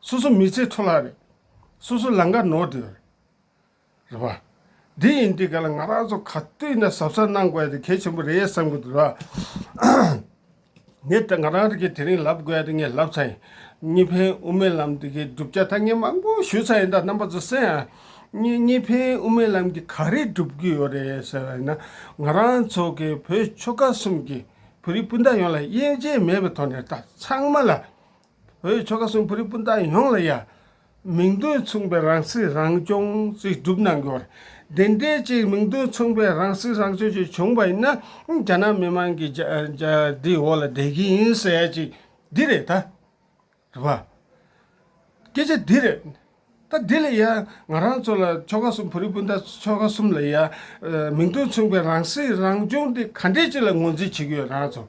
Speaker 1: སོ་སོ་མི་ཚེ་འཕྲོ་བརླག་རེད། སོ་སོ་ལང་ཀ་ནོར་འདོད་རེད། རེད་པ། འདི་ཡིན་འདི་ག་ལ་ང་རང་ཚོ་ག་དུས་ནས་གཟབ་གཟབ་གནང་དགོས་དེ་གལ་ཆེན་པོ་རེད་བསམ་གྱི་འདུག་ར། ངས་ད་ང་རང་རིགས་ཀྱི་དེ་རིང་ལབ་དགོས་དེ་ངས་ལབ་ཚར་ཡིན། གཉིས་ཕན་དབུ་མའི་ལམ་འདི་གའི་བསྒྲུབ་བྱ་ཐ་སྙད་མང་པོ་ཞུ་ཚར་ཡིན་ད་རྣམ་པ་ཚོ་སེམས་ཡ། གཉིས་གཉིས་ཕན་དབུ་མའི་ལམ་གྱི་ག་རེ་བསྒྲུབ་རྒྱུ་ཡོད་རེད་ཟེར་བ་ཡིན་ན། ང་རང་ཚོ་གའི་བོད་ཆོལ་ཁ་གསུམ་གྱི་བོད་རིགས་སྤུན་ཟླ་ཡོངས་ལ་དབྱེ་འབྱེད་མེད་པའི་ཐོག་ནས་ད་ཚང་མ་ལ། བོད་ཀྱི་ཆོ་ག་གསུམ་བོད་རིགས་སྤུན་ཟླ་ཡོངས་ལ་ཡང་མིང་དོན་མཚུངས་པའི་རང་སྲིད་རང་སྐྱོང་ཅིག་བསྒྲུབ་གནང་དགོས། དེ་འདྲའི་ཅིག་མིང་དོན་མཚུངས་པའི་རང་སྲིད་རང་སྐྱོང་ཅིག་བྱུང་པ་ཡིན་ན་རྒྱ་ནག་མི་དམངས་ཀྱི་འདིའི་འོག་ལ་བསྡད་ཀྱི་ཡིན་ཟེར་ཡ་ཅིག་འདི་རེད་ད། རེད་པ། སྐད་ཆ་འདི་རེད། ད་འདི་ལ་ཡ་ང་རང་ཚོ་ལ་ཆོ་ག་གསུམ་བོད་རིགས་སྤུན་ཟླ་ཆོ་ག་གསུམ་ལ་ཡ་མིང་དོན་མཚུངས་པའི་རང་སྲིད་རང་སྐྱོང་འདི་ག་འདྲའི་ཅིག་ལ་ངོས་འཛིན་བྱེད་ཀྱི་ཡོད་རང་ཚོ།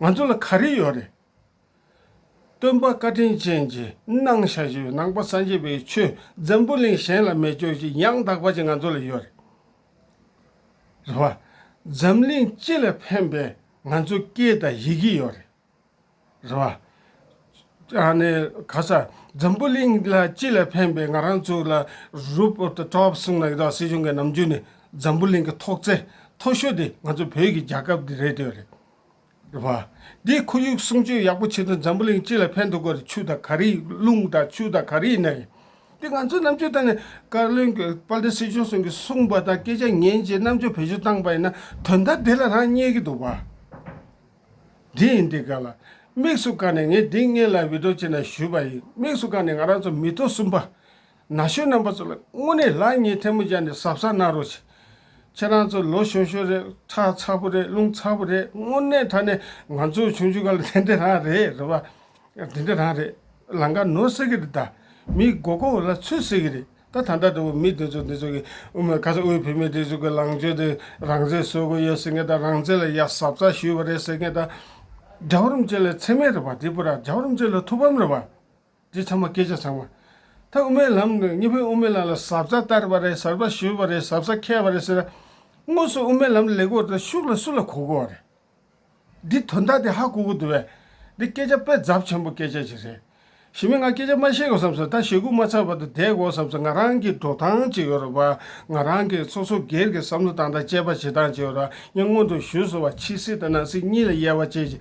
Speaker 1: ང་ཚོ་ལ་ག་རེ་ཡོད་རེད། སྟོན་པ་བཀའ་དྲིན་ཅན་གྱི་སྣང་ཞལ་ཞེས་པའི་ནང་པ་སངས་རྒྱས་པའི་ཆོས་འཛམ་བུ་གླིང་གཞན་ལ་མེད་ཁྱོད་ཀྱིས་ཡང་དག་པ་ཅིག་ང་ཚོ་ལ་ཡོད་རེད། རེད་བ། འཛམ་གླིང་སྤྱི་ལ་ཕན་པའི་ང་ཚོ་སྐད་དང་ཡི་གེ་ཡོད་རེད། རེད་བ། ནས་ག་ས་འཛམ་བུ་གླིང་ལ་སྤྱི་ལ་ཕན་པའི་ང་རང་ཚོ་ལ་རུབ་སྟྲོག་གསུངས་ན་ཡི་དྭགས་སྲིད་གཞུང་གི་ནམ་རྒྱུན་ནས་འཛམ་བུ་གླིང་གི་ཐོག་བརྩེགས་མཐོ་ཤོས་དེ་ང་ཚོ་བོད་ཀྱི་རྒྱལ་ཁབ་དེ་རེད་དེ་ཡོད་རེད། བ། འདིའི་ཁོར་ཡུག་སྲུང་སྐྱོབ་ཡག་པོ་བྱས་ན་འཛམ་བུ་གླིང་སྤྱི་ལ་ཕན་ཐོགས་པར་ཆུ་དང་གར་ཡིག་རླུང་དང་ཆུ་དང་གར་ཡིག་ནི། འདི་ང་ཚོའི་རྣམ་དཔྱོད་ལྟར་ན་བཀའ་བློན་གྱི་དཔལ་ལྡན་སྲིད་སྐྱོང་སོང་གིས་གསུངས་པ་དང་སྐད་ཆ་ངན་བྱེད་རྣམ་དཔྱོད་བེད་སྤྱོད་བཏང་པ་ཡིན་ན་དོན་དག་འདི་ལ་རང་རྙེད་ཀྱི་འདུག་བ། འདི་ཡིན་འདི་ག་ལ་དམིགས་སུ་བཀར་ནས་ངས་འདི་ངེད་ལ་འུད་སྒྲོག་བྱས་ན་ཞུས་པ་ཡིན་དམིགས་སུ་བཀར་ནས་ང་རང་ཚོ་མི་ཐོག་གསུམ་པ། ན་གཞོན་རྣམ་པ་ཚོ་ལ་དངོས་གནས་ལགས་གཉིས་ཐལ་མོ་སྦྱར་ནས་ཟབ་ས་གནང་རོགས། ཁྱེད་རང་ཚོ་ལོ་ཤོ་ཤོ་རེད་ཁྲག་ཚ་པོ་རེད་རླུང་ཚ་པོ་རེད་དངོས་གནས་ད་ནས་ང་ཚོའི་ཆུང་ཆུང་ག་ལ་དེ་འདྲ་རང་རེད་རེད་བ། དེ་འདྲ་རང་རེད་ལང་ཀ་ནོར་ཟེར་གི་རེད་ད། མིའི་མགོ་སྐོར་བ་ལ་ཚུད་ཟེར་གི་རེད་ད་ད་ལྟ་འདྲ་བོ་མི་དེ་ཚོ་འདི་ཚོ་གི་དབུ་མའི་ཁ་ས་དབུས་བོད་མི་དེ་ཚོ་གི་ལང་སྤྱོད་དེ་རང་བཙན་བཟོ་དགོས་ཡོད་ཟེར་མཁན་དང་རང་བཙན་ལ་ཡག་ཟབ་ཚགས་ཞུས་བ་རེད་ཟེར་མཁན་དང། རྒྱ་གོར་མ་ཅན་ལ་འཚེ་མེད་རེད་བ་འདི་པོ་ར་རྒྱ་གོར་མ་ཅན་ལ་ཐུགས་ཕམ་རེད་བ། དེ་ཚང་མ་སྐད་ཆ་ཚང་མ། ད་དབུ་མའི་ལམ་ནི་གཉིས་ཕན་དབུ་མའི་ལམ་ལ་ཟབ་ས་བསྟར་བ་རེད་ཟབ་ས་ཞུས་བ་རེད་ཟབ་ས་ཁས་བ་རེད་ཟེར་ན། དངོས་སུ་དབུ་མའི་ལམ་ལས་དགོས་དང་ཤུགས་ལ་སུ་ལ་གོ་དགོས་བ་རེད། འདི་དོན་དག་དེ་ཧ་གོ་གི་འདུག་བས། འདི་སྐད་ཆ་དཔེ་ཛབ་ཆེན་པོ་སྐད་ཆ་ཅིག་རེད། ཞི་མི་ང་སྐད་ཆ་མ་བཤད་གོ་བསམ་སོང་ད་ཞེ་དགུ་མ་ཚར་བར་དུ་བསྡད་དགོ་བསམ་སོང་ང་རང་གིས་འགྲོ་སྟངས་ཅིག་ཡོད་རེད་བ། ང་རང་གིས་སོ་སོ་སྒེར་གྱི་བསམ་བློ་དང་དང་བཅས་པ་བྱེད་སྟངས་ཅིག་ཡོད་རེད་བ་ངས་སྔོན་དུ་ཞུས་སོང་བ་ཕྱི་སྲིད་དང་ནང་སྲིད་གཉིས་ལ་དབྱེ་བ་བྱེད་ཅིང་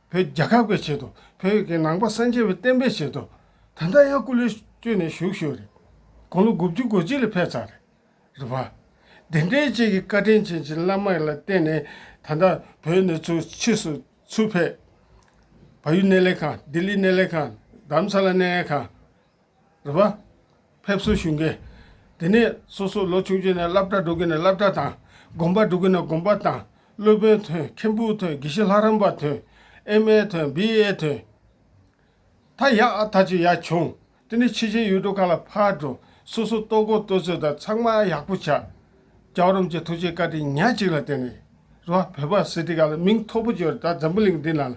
Speaker 1: བོད་རྒྱལ་ཁབ་ཀྱི་ཆེད་དུ་བོད་ཀྱི་ནང་པ་སངས་རྒྱས་པའི་བསྟན་པའི་ཆེད་དུ་ད་ལྟ་ཡང་སྐུ་ལུས་བསྐྱོད་ནས་བཞུགས་ཤོས་རེད། དགུང་ལོ་དགུ་བཅུ་གོ་གཅིག་ལ་ཕེབས་ཚར་རེད། རེད་པ། དེ་འདྲའི་བཅས་ཀྱི་བཀའ་དྲིན་ཆེན་གྱི་བླ་མ་ལ་བརྟེན་ནས་ད་ལྟ་བོད་གནས་ཚུལ་ཕྱིས་སུ་ཚུར་ཕེབས། བ་ཡུལ་གནས་ལས་ཁང་ལྡི་ལི་གནས་ལས་ཁང་རྡ་རམ་ས་ལ་གནས་ལས་ཁང། རེད་པ། ཕེབས་བསུ་ཞུས་མཁན། དེ་ནས་སོ་སོ་ལོ་ཆུང་ཆུང་ནས་སླབ་གྲྭ་འགྲོ་གི་ནས་སླབ་གྲྭ་དང། དགོན་པ་འགྲོ་གི་ནས་དགོན་པ་དང། སློབ་དཔོན་དོན་མཁྱེན་བུ་དོན་དགེ་བཤེས་ལྷ་རམས་པ་དོན། ཨེ་མ་ཨེ་དོན་བི་ཨེ་དོན། ཐ་ཡ་ཨ་ཐ་ཅི་ཡ་བྱུང། དེ་ནས་ཕྱི་ཆའི་ཡུལ་གྲོ་ག་ལ་ཕར་འགྲོ། སོ་སོ་ལྟོ་གོ་ལྟོ་ཚོད་དང་ཚང་མ་ཡག་པོ་བྱ། རྒྱ་བོ་རམས་ཀྱི་ཐུགས་རྗེ་བཀའ་དྲིན་ཉག་གཅིག་ལ་བརྟེན་ནས། རེད་པ། བོད་པ་སི་ཏི་ག་ལ་མིང་མཐོ་པོ་བརྗོད་རེད་ད་འཛམ་བུ་གླིང་འདི་ན།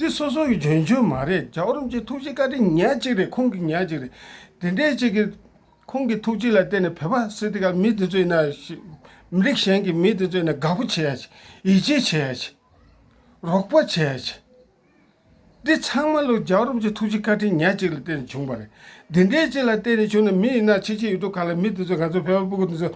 Speaker 1: འདི་སོ་སོ་ཡི་འཇོན་ཆོས་མ་རེད་རྒྱ་གོར་རམ་ཅིག་ཐུགས་རྗེ་བཀའ་དྲིན་ཉག་གཅིག་རེད་ཁོང་གི་ཉག་གཅིག་རེད་དེ་འདྲའི་གཅིག་གི། ཁོང་གི་ཐུགས་རྗེ་ལ་བརྟེན་ནས་བོད་པ་སི་ཏི་ཀ་མི་འདི་ཚོས་ན་ཞིག་མི་རིགས་གཞན་གྱི་མི་འདི་ཚོས་ན་དགའ་པོ་བྱེད་ཡ་ཆེ་ཡིད་ཆེས་བྱེད་ཡ་ཆེ། རོགས་པ་བྱེད་ཡ་ཆེ། འདི་ཚང་མ་ལོ་རྒྱ་གོར་རམ་ཅིག་ཐུགས་རྗེ་བཀའ་དྲིན་ཉག་གཅིག་ལ་བརྟེན་ནས་བྱུང་པ་རེད་འདི་འདྲའི་གཅིག་ལ་བརྟེན་ནས་བྱུང་ན་མི་ཡིན་ན་ཆི་ཆི་ཡོད་དུ་ག་ལ་མི་འདི་ཚོས་ང་ཚོ་བོད་པ་སྤུ་གུ་འདི་ཚོ།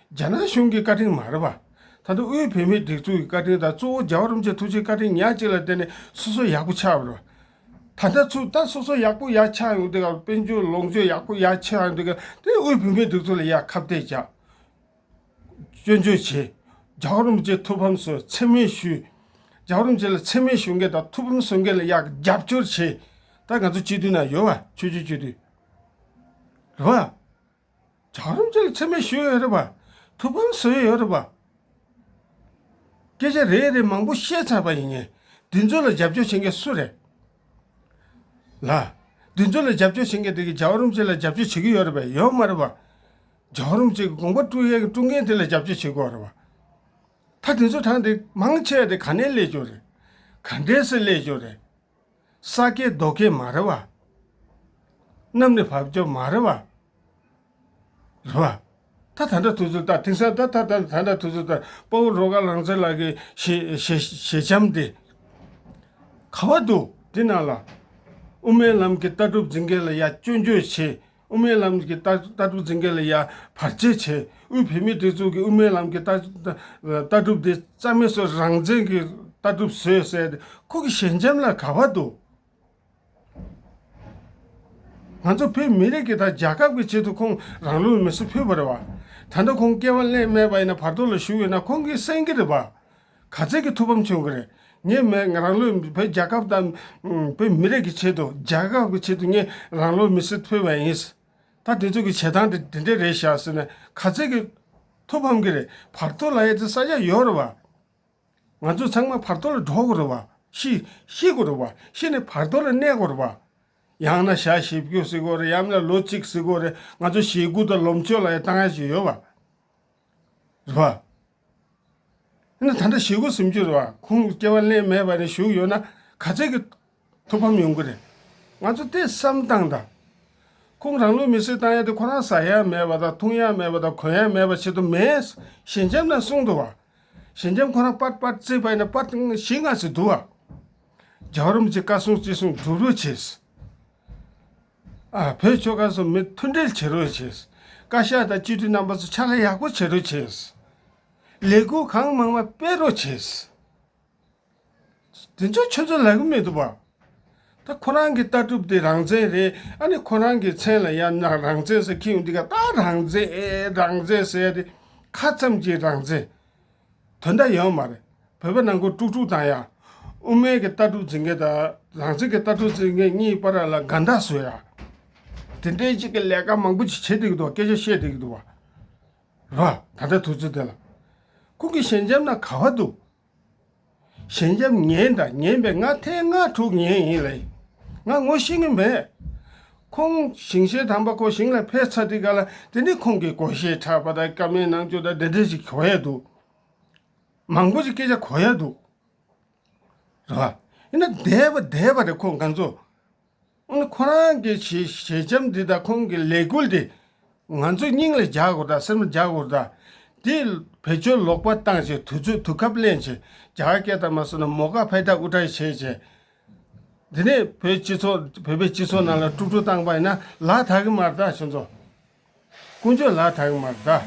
Speaker 1: རྒྱ་ནག་གཞུང་གི་བཀའ་དྲིན་མ་རེད་པ། ད་དུང་དབུས་བོད་མིའི་སྒྲིག་འཛུགས་ཀྱི་བཀའ་དྲིན་དང་གཙོ་བོ་རྒྱ་བོད་རིམ་བྱོན་ཐུགས་རྗེའི་བཀའ་དྲིན་ཉག་གཅིག་ལ་བརྟེན་ནས་སོ་སོ་ཡག་པོ་ཆགས་ཡོད་རེད་པ། ད་ལྟ་ཚུར་ལྟ་སོ་སོ་ཡག་པོ་ཡག་ཆགས་ཡོང་འདུག་གམ་དཔལ་འབྱོར་ལོངས་སྤྱོད་ཡག་པོ་ཡག་ཆགས་ཡོང་འདུག་གམ་དེ་དབུས་བོད་མིའི་སྒྲིག་འཛུགས་ལ་ཡང་ཁ་བཏད་བྱ། སྐྱོན་བརྗོད་བྱས། རྒྱ་བོད་རིམ་བྱོན་ཐུགས་ཕམ་སོས་འཚེ་མེད་ཞུས། རྒྱ་བོད་རིམ་བྱོན་ལ་འཚེ་མེད་ཞུ་མཁན་དང་ཐུགས་ཕམ་གསོ་མཁན་ལ་ཡང་རྒྱབ་སྐྱོར་བྱས། ད་ང་ཚོ་སྤྱི་འཐུས་ནང་ཡོད་པ་ཆོས་རྒྱུད་སྤྱི་འཐུས། རེད་པ། བྱང་སེམས་ཅན་ལ་ཚད་མེད་ཞུས་ཡོད་རེད་བ། ཐུགས་ཕམ་བཟོས་ཡོད་རེད་བ། སྐད་ཆ་རེད་རེད་མང་པོ་བཤད་ཚར་བ་ཡིན་ངེས། འདི་ཚོ་ལ་རྒྱབ་སྐྱོར་བྱེད་མཁན་སུ་རེད། ལ། འདི་ཚོ་ལ་རྒྱབ་སྐྱོར་བྱེད་མཁན་དེ་གིས་ཇའོ་རུང་ཅེ་ལ་རྒྱབ་སྐྱོར་བྱེད་ཀྱི་ཡོད་རེད་བ་ཡོད་མ་རེད་བ། ཇའོ་རུང་ཅེ་གི་དགོངས་པ་དཀྲུགས་ཡས་ཀྱི་དཀྲུགས་མཁན་དེ་ལ་རྒྱབ་སྐྱོར་བྱེད་དགོས་རེད་བ། ད་དེ་ཚོ་དྲངས་ཏེ་མང་ཆེ་བ་དེ་ག་ནས་སླེབས་ཀྱི་རེད། ག་འདྲས་སུ་སླེབས་ཀྱི་རེད། ས་སྐྱའི་རྡོ་སྐས་མ་རེད་བ། གནམ་ནི་བབ་ཅོལ་མ་རེད་བ། རེད་བ། ད་ད་འདྲ་ཐུག་ཚུལ་ལྟར་དེང་སང་ད་ད་ད་ད་འདྲ་ཐུག་ཚུལ་ལྟར་དཔའ་བོ་རོ་ཀ་ལང་ཚེ་ལགས་ཀྱི་ཞེ་ཞེ་ཞེ་བྱམས་དེ། ག་བ་འདུག་དེ་ནང་ལ། དབུ་མའི་ལམ་གྱི་ལྟ་གྲུབ་འཛིན་མཁན་ལ་ཡ་ཅོ་ཅོ་བྱེད། དབུ་མའི་ལམ་གྱི་ལྟ་གྲུབ་འཛིན་མཁན་ལ་ཡང་བར་ཆད་བྱས། དབུས་བོད་མིའི་སྒྲིག་འཛུགས་ཀྱི་དབུ་མའི་ལམ་གྱི་ལྟ་གྲུབ་དེ་རྩ་མེད་བཟོས་རང་བཙན་གྱི་ལྟ་གྲུབ་བཟོས་བསད་དེ་ཁོ་གི་ཞལ་འཇམ་ལ་ག་བར་འདུག། ང་ཚོ་བོད་མི་རིགས་ཀྱི་དང་རྒྱལ་ཁབ་ཀྱི་ཆེད་དུ་ཁོང་རང་ལུས་མེ་གསོད་ཕུལ་བ་རེད་བ། ད་ལྟ་ཁོང་སྐྱེ་བ་སླད་སྨྲས་པ་ཡིན་ན་བར་དོ་ལ་ཞུགས་ཡོད་ན་ཁོང་གིས་གསན་གྱི་རེད་བ། ག་ཚད་ཀྱི་ཐུགས་ཕམ་བྱུང་གི་རེད། ངས་མེད་ང་རང་ལོས་བོད་རྒྱལ་ཁབ་དང། བོད་མི་རིགས་ཀྱི་ཆེད་དུ་རྒྱལ་ཁབ་ཀྱི་ཆེད་དུ་ངས་རང་ལོ་མི་སེར་ཕུལ་བ་ཡིན། ད་དེ་ཚོ་གི་བྱེད་སྟངས་དེ་དེ་འདྲས་རེད་བཞག་ཟེར་ནས་ག་ཚད་ཀྱི་ཐུགས་ཕམ་གི་རེད་བར་དོ་ལ་ཡ་དེ་ས་ཆ་ཡོད་རེད་བ། ང་ཚོ་ཚང་མ་བར་དོ་ལ་འགྲོ་དགོས་རེད་བ། ཤི། ཤི་དགོས་རེད་བ། ཤི་ནས་བར་དོ་ལ་གནས་དགོས་རེད་བ། ཡང་ན་ཞག་བཞི་བཅུ་ཟིག་དགོས་རེད་ཡང་མིན་ན་ལོ་གཅིག་ཟིག་དགོས་རེད་ང་ཚོ་ཞེ་དགུ་དང་ལོ་མཆོད་ལ་ཡ་ལྟ་ང་ཞིག་ཡོད་བ། རེད་བ། ད་ལྟ་ཞི་རྒོལ་སུམ་ཅུར་བ་ཁུངས་སྐྱེལ་བ་ལས་མེད་པ་ནས་ཞུགས་ཡོད་ན་ག་ཚད་ཀྱི་ཐུགས་ཕམ་ཡོང་གི་རེད། ང་ཚོ་དེ་བསམ་སྟངས་དང། ཁོང་རང་ལུས་མེ་གསོད་བཏང་ཡ་དེ་ཁོ་རང་ཟ་ཡ་མེད་པ་དང་འཐུང་ཡ་མེད་པ་དང་གོན་ཡ་མེད་པ་བྱེད་དུ་མེད། ཞི་འཇམ་ནས་གསུངས་འདུག་བ། ཞི་འཇམ་ཁོ་རང་པར་པར་རྩེད་པ་ཡིན་ན་པར་ཞིག་མངགས་ཟེར་འདུག་བ། རྒྱ་རོམ་གྱི་བཀའ་གསུང་ཅི་གསུང་སྒྲུབ་རོགས་བྱས། བོད་ཆོལ་ཁ་ཚོ་མི་མཐུན་འབྲེལ་བྱེད་རོགས་བྱེད། བཀའ་ཤག་དང་སྤྱི་འཐུས་རྣམ་པ་ཚོ་ཕྱག་ལས་ཡག་པོ་བྱེད་རོགས་བྱེད། ལས་འགུལ་གང་མང་མ་སྤེལ་རོགས་བྱེད། དེ་ཚོ་ཁྱོད་ཚོ་ལ་གི་མི་འདུག་བ། ད་ཁོ་རང་གི་ལྟ་གྲུབ་དེ་རང་བཙན་རེད་ཨ་ནི་ཁོ་རང་གི་མཚན་ལ་ཡང་ན་རང་བཙན་ཟེར་ཁྱེད་ཡོང་འདི་ག་ད་རང་བཙན་རང་བཙན་ཟེར་ཡ་དེ་ཁ་ཙམ་གྱི་རང་བཙན། དོན་དག་ཡོད་མ་རེད། བོད་པ་ནང་ཁུལ་དཀྲུགས་དཀྲུགས་དང་ཡང། དབུ་མའི་གི་ལྟ་གྲུབ་འཛིན་མཁན་དང་རང་བཙན་གི་ལྟ་གྲུབ་འཛིན་མཁན་གཉིས་པ་ར་ལ་དགའ་འདག་བཟོས་ཡ། དེ་འདྲའི་གཅིག་གི་ལས་ཀ་མང་པོ་ཅིག་བྱེད་བསྡད་ཀྱི་འདུག་བ་སྐད་ཆ་བཤད་བསྡད་ཀྱི་འདུག་བ། རེད་བ། ད་ལྟའི་དུས་ཚོད་དེ་ལ། ཁོང་གི་ཞལ་འཇམ་ན་ག་བ་འདུག། ཞེན་སྐྱབས་ངན་དང་ངན་པའི་སྔ་ཐལ་སྔ་དྲུག་ངན་ཡིན་ལ་ཡིན་ང་ངོ་ཤེས་ངེས་མེད། ཁོང་ཞིང་གཤེགས་དམ་པ་ཁོ་ཞིང་ལ་ཕེབས་ཚར་དུས་ག་ལ་དེ་ནས་ཁོང་གི་གོ་ཤེས་ཕྲ་བ་དང་སྐྱོ་མེད་ནང་ཆོས་དང་འབྲེལ་འབྲེལ་ཞིག་གོ་ཡ་འདུག་མང་པོ་ཞིག་སྐད་ཆ་གོ་ཡ་འདུག་རེད་བ། ཡིན་ན་འདས་པ་འདས་པ་རེད་ཁོ་འགའ་ཚོ་ཁོ་རང་གི་ཞལ་འཆམ་འདི་དང་ཁོང་གི་ལས་འགུལ་འདི་ང་ཚོས་སྙིང་ལ་རྒྱག་དགོས་དང་སེམས་ལ་རྒྱག་དགོས་དང། འདིས་བེད་སྤྱོད་ལོག་པ་བཏང་ཆེད་དུས་ཚོད་དུས་སྐབས་གླེང་ཆེད་རྒྱ་གར་སྐད་དང་མ་སོ་ན་མོ་ཀ་བྷེ་ཏཱ་དབུ་སྐྲ་བྱས་ཆེད། འདི་ནས་བོད་སྤྱི་ཚོགས་བོད་པའི་སྤྱི་ཚོགས་ནང་ལ་དཀྲུག་དཀྲུག་བཏང་པ་ཡིན་ན་ལ་དྭགས་ཀྱི་མར་དྭགས་ཕྱི་ཚོགས། ཀུན་སྤྱོད་ལ་དྭངས་མ་དགའ།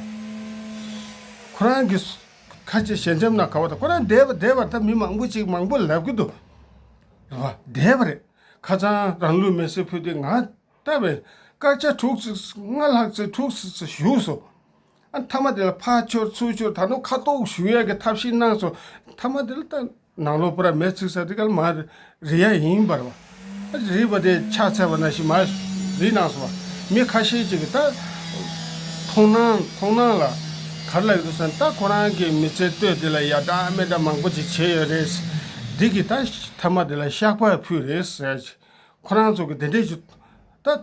Speaker 1: ཁོ་རང་གི། ཁ་ཆེ་ཞལ་འཇམ་ན་ག་བ་དང་ཁོ་རང་བསྡད་པ་བསྡད་པར་ད་མི་མང་པོ་ཅིག་མང་པོ་ལབ་ཀི་འདུག་རེད་བ། བསྡད་པ་རེད། ཁ་ཚང་རང་ལུས་མེར་སྲེག་ཕུལ་ཏེ་ང་ལྟ་བའི། སྐར་ཆ་དྲུག་ཅུ་ལྔ་ལྷག་ཚེ་དྲུག་བཞུགས་སོང། ཨ་མཐའ་མ་དེ་ལ་ཕ་འཆོར་ཚུར་འཆོར་ད་དུང་ཁ་གཏོགས་ཞུ་ཡ་གི་ཐབས་ཤིག་གནང་སོང། མཐའ་མ་དེ་ལ་ད། ནང་ལོགས་པར་མེས་ཚིག་ས་ཏི་ཀར་མ་རི་ཡ་ཡིན་པར་བ་རི་བ་དེ་ཕྱག་འཚལ་བ་ན་ཤི་མ་རི་ནང་སོང་བ་མི་ཁ་ཤས་ཅིག་གིས་རྟ་མཐོང་སྣང་མཐོང་སྣང་ལ་གར་ལ་ཡོད་དུ་སོང་རྟ་ཁོ་རང་གི་མི་ཚེ་སྟོད་དེ་ལ་ཡ་བཀྲ་མེ་བཀྲ་མང་པོ་ཅིག་བྱས་ཡོད་རེད་འདི་གི་རྟ་ཐ་མ་དེ་ལ་ཤག་པ་ཕུད་རེད་ཟེར་ཁོ་རང་ཚོ་གི་དེ་འདྲས་ཀྱི་རྟ།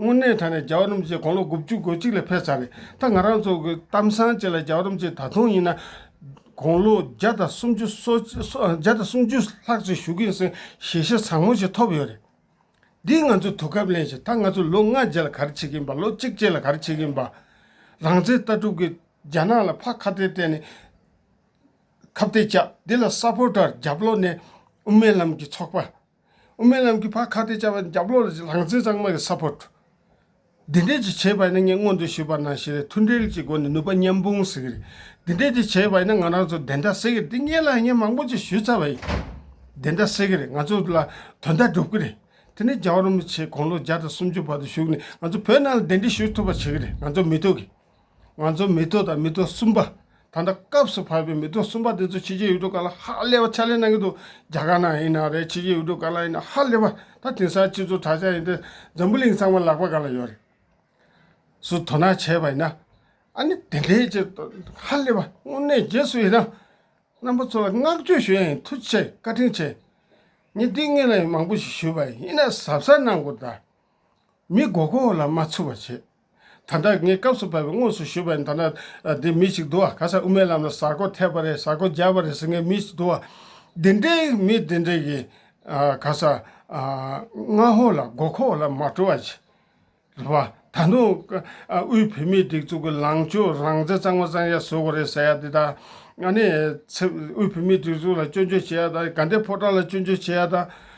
Speaker 1: དངོས་གནས་ད་ནས་རྒྱ་རོམ་ཅན་དགོང་ལོ་དགུ་བཅུ་གོ་གཅིག་ལ་ཕེབས་ཚར་རེད་ད་ང་རང་ཚོ་གི་གཏམ་སང་བཅས་ལ་རྒྱ་རོམ་ཅན་ད་དུང་ཡིན་ན་དགོང་ལོ་བརྒྱ་དང་སུམ་ཅུ་སོ་བརྒྱ་དང་སུམ་ཅུ་ལྷག་ཅིག་བཞུགས་གིན་སོན་ཞེ་ཞེ་བཟང་མོ་ཞིག་ཐོབ་ཡོད་རེད། འདིས་ང་ཚོས་དུས་སྐབས་གླེང་ཞིག་ད་ང་ཚོ་ལོ་ལྔ་རྗེས་ལ་གར་བྱེད་གིན་པ་ལོ་གཅིག་རྗེས་ལ་གར་བྱེད་གིན་པ། རང་བཙན་ལྟ་གྲུབ་ཀྱིས་རྒྱ་ནག་ལ་ཕ་ཁ་གཏད་གཏད་ནས་ཁ་བརྡས་བཅག་འདི་ལ་སཱ་ཕོ་ཏར་རྒྱབ་ལོག་ནས་དབུ་མའི་ལམ་གྱི་ཚོགས་པ་དབུ་མའི་ལམ་གྱི་བར་ཁ་བརྡའི་བྱ་བ་རྒྱབ་ལོག་ལ་ལྷང་ཚེ་གཙང་མ་གི་ས་ཕོར། འདི་འདྲས་ཀྱིས་བྱས་པ་ཡིན་ན་ངས་སྔོན་དུ་ཞུས་པ་ན་ཞེས་མཐུན་འབྲེལ་གྱི་སྒོ་ནས་ནུས་པ་མཉམ་སྤུངས་ཟེར་གྱི་རེད། འདི་འདྲས་ཀྱིས་བྱས་པ་ཡིན་ན་ང་རང་ཚོ་བདེན་མཐའ་སེལ་གྱི་རེད་འདི་ངས་ལ་ངས་མང་པོ་ཅིག་ཞུས་ཚར་བ་ཡིན། བདེན་མཐའ་སེལ་གྱི་རེད་ང་ཚོ་ལ་དོན་མཐའ་འགྲུབ་ཀྱི་རེད། དེ་ནས་རྒྱ་གར་མི་ཆེ་དགུང་ལོ་བརྒྱ་དང་སུམ་ཅུ་བར་དུ་བཞུགས་ནས་ང་ཚོ་བོད་ནང་ལ་བདེན་འདྲིས་ཞུ་ཐུབ་པ་བྱེད་ཀྱི་རེད་ང་ཚོ་མི་ཐུག་གི། ང་ཚོ་མེ་ཏོག་དང་མེ་ཏོག་གསུམ་པ། ད་ལྟ་སྐབས་སུ་བབས་པའི་མེ་ཏོག་གསུམ་པ་དེ་ཚོ་ཕྱི་རྒྱལ་ཡུལ་གྲུ་ག་ལ་ཧ་ལས་པ་ཕྱག་ལས་གནང་གི་འདུག་རྒྱ་གར་ནང་ཡིན་ན་རེད་ཕྱི་རྒྱལ་ཡུལ་གྲུ་ག་ལ་ཡིན་ན་ཧ་ལས་པ་ད་དེང་སང་ཁྱེད་ཚོ་གྲྭ་ཤག་ཡིན་ཏེ་འཛམ་བུ་གླིང་ཚང་མ་ལག་པ་ག་ལ་ཡོད་རེད། སུ་དོ་སྣང་བྱས་པ་ཡིན་ན། ཨ་ནི་དེ་འདྲའི་ཆེ་ཧ་ལས་པ་དངོས་གནས་རྗེས་སུ་ཡིན་ན། རྣམ་པ་ཚོ་ལ་བསྔགས་བརྗོད་ཞུ་ཡ་ཡིན་ཐུགས་ཆེ་བཀའ་དྲིན་ཆེ། ངས་འདི་ངས་ལ་ཡིན་མང་པོ་ཞིག་ཞུས་པ་ཡིན་ན་ཟབ་ས་གནང་དགོས་ད། མི་མགོ་ཁོག་ལ་མ་ཚུད་པ་བྱེད། ད་ལྟ་ངའི་སྐབས་སུ་བབས་པའི་དངོས་སུ་ཞུས་པ་ཡིན་ད་ནི། འདི་མི་ཞིག་འདུག་ཨ་ཁ་སང་དབུ་མའི་ལམ་ལ་གཟར་ཀོ་ཐེབས་པ་རེད་གཟར་ཀོ་རྒྱབ་པ་རེད་ཟེར་མཁན་མི་ཞིག་འདུག་ཨ། འདི་འདྲའི་མི་འདི་འདྲས་ཀྱིས་ག་ས་ང་ཧོ་ལ་མགོ་ཁོག་ལ་མ་བཀྲོལ་བ་ཅི་རེད་བ། ད་དུང་དབུས་བོད་མིའི་སྒྲིག་འཛུགས་ཀྱི་ལངས་ཕྱོགས་རང་བཙན་གཙང་མ་གཙང་ཡག་བཟོས་དགོས་རེད་ཟེར་ཡ་འདི་དང། ཨ་ནི། དབུས་བོད་མིའི་སྒྲིག་འཛུགས་ལ་སྐྱོན་བརྗོད་བྱེད་ཡ་དང་དགའ་ལྡན་ཕོ་བྲང་ལ་སྐྱོན་བརྗོད་བྱེད་ཡ་དང།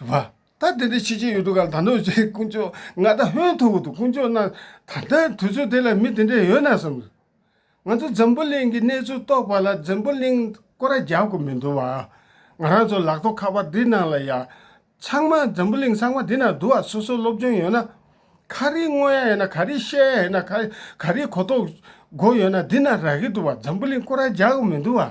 Speaker 1: བ། ད་དེ་འདྲའི་ཆོས་ཅི་ཡོད་འདུག་ག་ད་ནོར་བྱས་དཀོན་མཆོག་ང་ད་ཧོན་ཐུག་གི་འདུག་དཀོན་མཆོག་ན་ད་ལྟ་དུས་ཚོད་དེ་ལ་མི་དེ་འདྲས་ཡོད་ན་བསམ། ང་ཚོ་འཛམ་བུ་གླིང་གི་གནས་ཚུལ་རྟོགས་པ་ལ་འཛམ་བུ་གླིང་ཀོ་ར་རྒྱབ་དགོས་མི་འདུག་བ། ང་རང་ཚོ་ལག་ཐོག་ཁ་པར་འདི་ནང་ལ་ཡང་ཚང་མ་འཛམ་བུ་གླིང་ཚང་མ་འདི་ནང་འདུག་བ་སོ་སོ་སློབ་སྦྱོང་ཡོད་ན། ག་རེ་བསྔོ་ཡ་ཡོད་ན་ག་རེ་བཤད་ཡ་ཡོད་ན་ག་ག་རེ་གོ་རྟོགས་དགོས་ཡོད་ན་འདི་ནང་རག་གི་འདུག་བ་འཛམ་བུ་གླིང་ཀོ་ར་རྒྱག་དགོས་མི་འདུག་བ།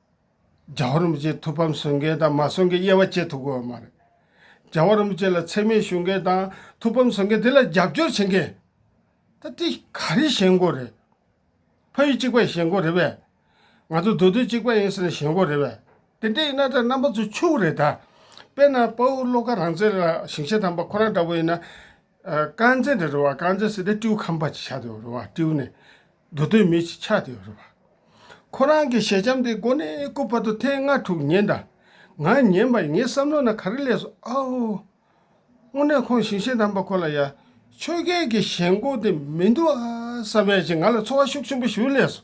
Speaker 1: རྒྱ་བོད་རིན་པོ་ཆེའི་ཐུགས་ཕམ་གསོས་མཁན་དང་མ་གསོས་མཁན་དབྱེ་བ་བྱེད་ཐུབ་དགོས་པ་མ་རེད། རྒྱ་བོད་རིན་པོ་ཆེ་ལ་འཚེ་མེད་ཞུ་མཁན་དང་ཐུགས་ཕམ་གསོས་མཁན་དེ་ལ་རྒྱབ་སྐྱོར་བྱེད་མཁན། ད་དེ་ག་རེ་གཞན་མགོ་རེད། ཕ་ཡུལ་གཅིག་པ་གཞན་མགོ་རེད་པས། ང་ཚོ་འདོད་དོན་གཅིག་པ་ཡིན་ཟེར་ན་གཞན་མགོ་རེད་པས། དེ་འདྲ་ཡིན་ན་ད་རྣམ་པ་ཚོ་ཕྱུག་རེད་ད། དཔེར་ན་དཔའ་བོ་བློ་དགའ་རང་བཙན་ལ་ཞིང་ཆེན་དམ་པ་ཁོ་རང་འདྲ་བོ་ཡིན་ན། རྐང་རྗེས་འདི་རུ་བ་རྐང་རྗེས་སུ་དེ་སྤྲེའུ་ཁམ་པ་ཅིག་ཆགས་འདུག་རུ་བ་སྤྲེའུ་ནི་འགྲོ་དོན་མེད་ཅིག་ཆགས་འདུག་རུ་བ། ཁོ་རང་གི་ཞལ་འཆམ་དེ་མགོ་ནས་སྐུ་བར་དུ་ཐེངས་ལྔ་དྲུག་ཉན་དང་ང་ཉན་པ་ཡིན་ངའི་བསམ་བློ་ན་ག་རེ་ལས་སོ་ཨའོ། དངོས་གནས་ཁོང་ཞིང་ཆེན་དམ་པ་ཁོ་ལ་ཡ། ཆོས་རྒྱལ་གྱི་ཞལ་མགོ་དེ་མི་འདུག་ཨ་བསམ་ཡ་ཞིག་ང་ལ་ཚོར་བ་ཤུགས་ཆེན་པོ་ཞིག་ལས་སོ།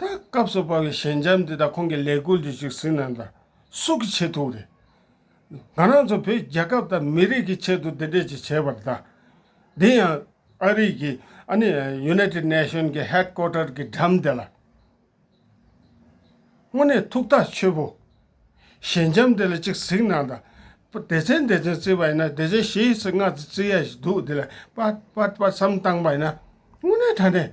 Speaker 1: ད་སྐབས་སུ་བབ་པའི་ཞལ་འཇམ་འདི་དག་ཁོང་གི་ལས་འགུལ་འདི་བཅུ་གཟིགས་ནང་དུ་སུ་གིས་བྱེད་ཐུབ་རེད། ང་རང་ཚོ་བོད་རྒྱལ་ཁབ་དང་མི་རིགས་ཀྱི་ཆེད་དུ་འདི་འདྲས་ཅིག་བྱས་པར་གདའ། འདི་ཡང་ཨ་རིག་གི་ཨ་ནི United Nation གི Headquarter གི་འགྲམ་འདི་ལ། དངོས་གནས་ཐུགས་ཐག་ཆོད་པོ། ཞལ་འཇམ་འདི་ལ་ཅིག་གཟིགས་ནང་དུ། སྡེ་ཚན་སྡེ་ཚན་བརྩི་བ་ཡིན་ན་སྡེ་ཚན་བཞི་ཡི་ཚིག་ལྔ་བརྩི་ཡ་ཞིག་འདུག་འདི་ལ་པདཔ་པདཔ་བསམ་བཏང་པ་ཡིན་ན་དངོས་གནས་ད་ནས་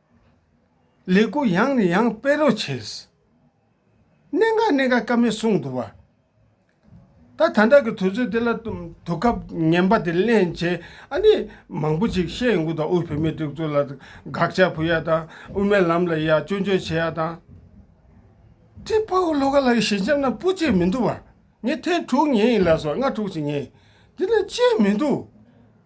Speaker 1: ལས་སྐུ་ཡང་ནས་ཡང་སྤེལ་རོགས་བྱེད། གནད་འགག་གནད་འགག་སྐབས་མེད་གསུངས་འདུག་བ། ད་ད་འདྲ་གི་དུས་ཚོད་དེ་ལ་དུས་སྐབས་ངན་པ་དེ་གླེང་བྱེད་ཨ་ནི་མང་པོ་ཅིག་བཤད་ཡོང་གི་འདུག་དབུས་བོད་མིའི་སྒྲིག་འཛུགས་ལ་དགག་བྱ་བུ་ཡ་དང་དབུ་མའི་ལམ་ལ་ཡ་སྐྱོན་བརྗོད་བྱེད་ཡ་དང། དེ་དཔའ་བོ་ལྷོ་ཁ་ལགས་ཀྱི་ཞལ་འཆམ་ན་སྤུ་བཅད་མི་འདུག་བ། ངས་ཐེངས་དྲུག་ཉན་ཡིན་ལགས་སོ་ལྔ་དྲུག་ཅིག་ཉན་ཡིན་དེ་ན་བཅད་མི་འདུག།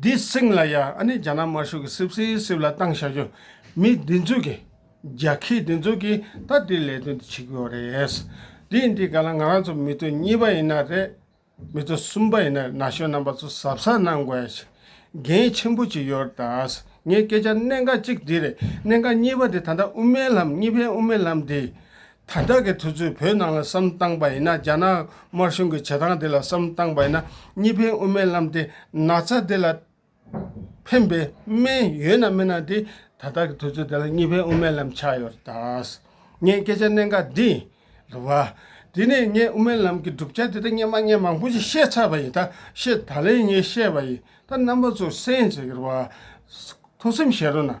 Speaker 1: འདི་སིང་ལ་ཡ་ཨ་ནི་རྒྱ་ནག་དམར་ཤོག་གི་སིབ་སིའི་སིབ་ལ་བཏང་བཞག་རྒྱུ་མི་འདི་ཚོས་ཀྱི་རྒྱ་ཁྱི་འདི་ཚོས་ཀྱི་ད་འདི་ལས་དོན་འདི་བྱེད་ཀྱི་ཡོད་རེད། འདི་ཡིན་འདི་ག་ལ་ང་རང་ཚོ་མི་ཚོ་གཉིས་པ་ཡིན་ན་རེད། མི་ཚོ་གསུམ་པ་ཡིན་ན་ན་གཞོན་རྣམ་པ་ཚོ་གཟབ་གཟབ་གནང་དགོས་གལ་ཆེན་པོ་གཅིག་ཡོད་ད་ངས་སྐད་ཆ་གནད་འགག་གཅིག་འདི་རེད་གནད་འགག་གཉིས་པ་འདི་ད་ལྟ་དབུ་མའི་ལམ་གཉིས་ཕན་དབུ་མའི་ལམ་འདི་དར་དྲག་གི་དུས་ཚོད་བོད་ནང་ལ་བསམ་བཏང་པ་ཡིན་ན་རྒྱ་ནག་དམར་གཞུང་གི་བྱེད་སྟངས་དེ་ལ་བསམ་བཏང་པ་ཡིན་ན་གཉིས་ཕན་དབུ་མའི་ལམ་དེ་ན་ཚ་དེ་ལ་ཕན་པའི་སྨན་ཡོད་ན་མེད་ན་དེ་ད་ལྟ་གི་དུས་ཚོད་དེ་ལ་གཉིས་ཕན་དབུ་མའི་ལམ་ཆགས་ཡོད་རེད་དཱ། ངས་སྐད་ཆ་གནད་འགག་འདི་རེད་བ། དེ་ནས་ངས་དབུ་མའི་ལམ་གྱི་གྲུབ་ཆ་དེ་དག་སྙན་མ་སྙན་མང་པོ་ཞིག་བཤད་ཚར་བ་ཡིན་ད་བཤད་ད་ལན་ངས་བཤད་པ་ཡིན་ད་རྣམ་པ་ཚོས་གསན་བྱེད་ཀྱི་རེད་བ། ཐུགས་སེམས་བཞེས་རོགས་གནང།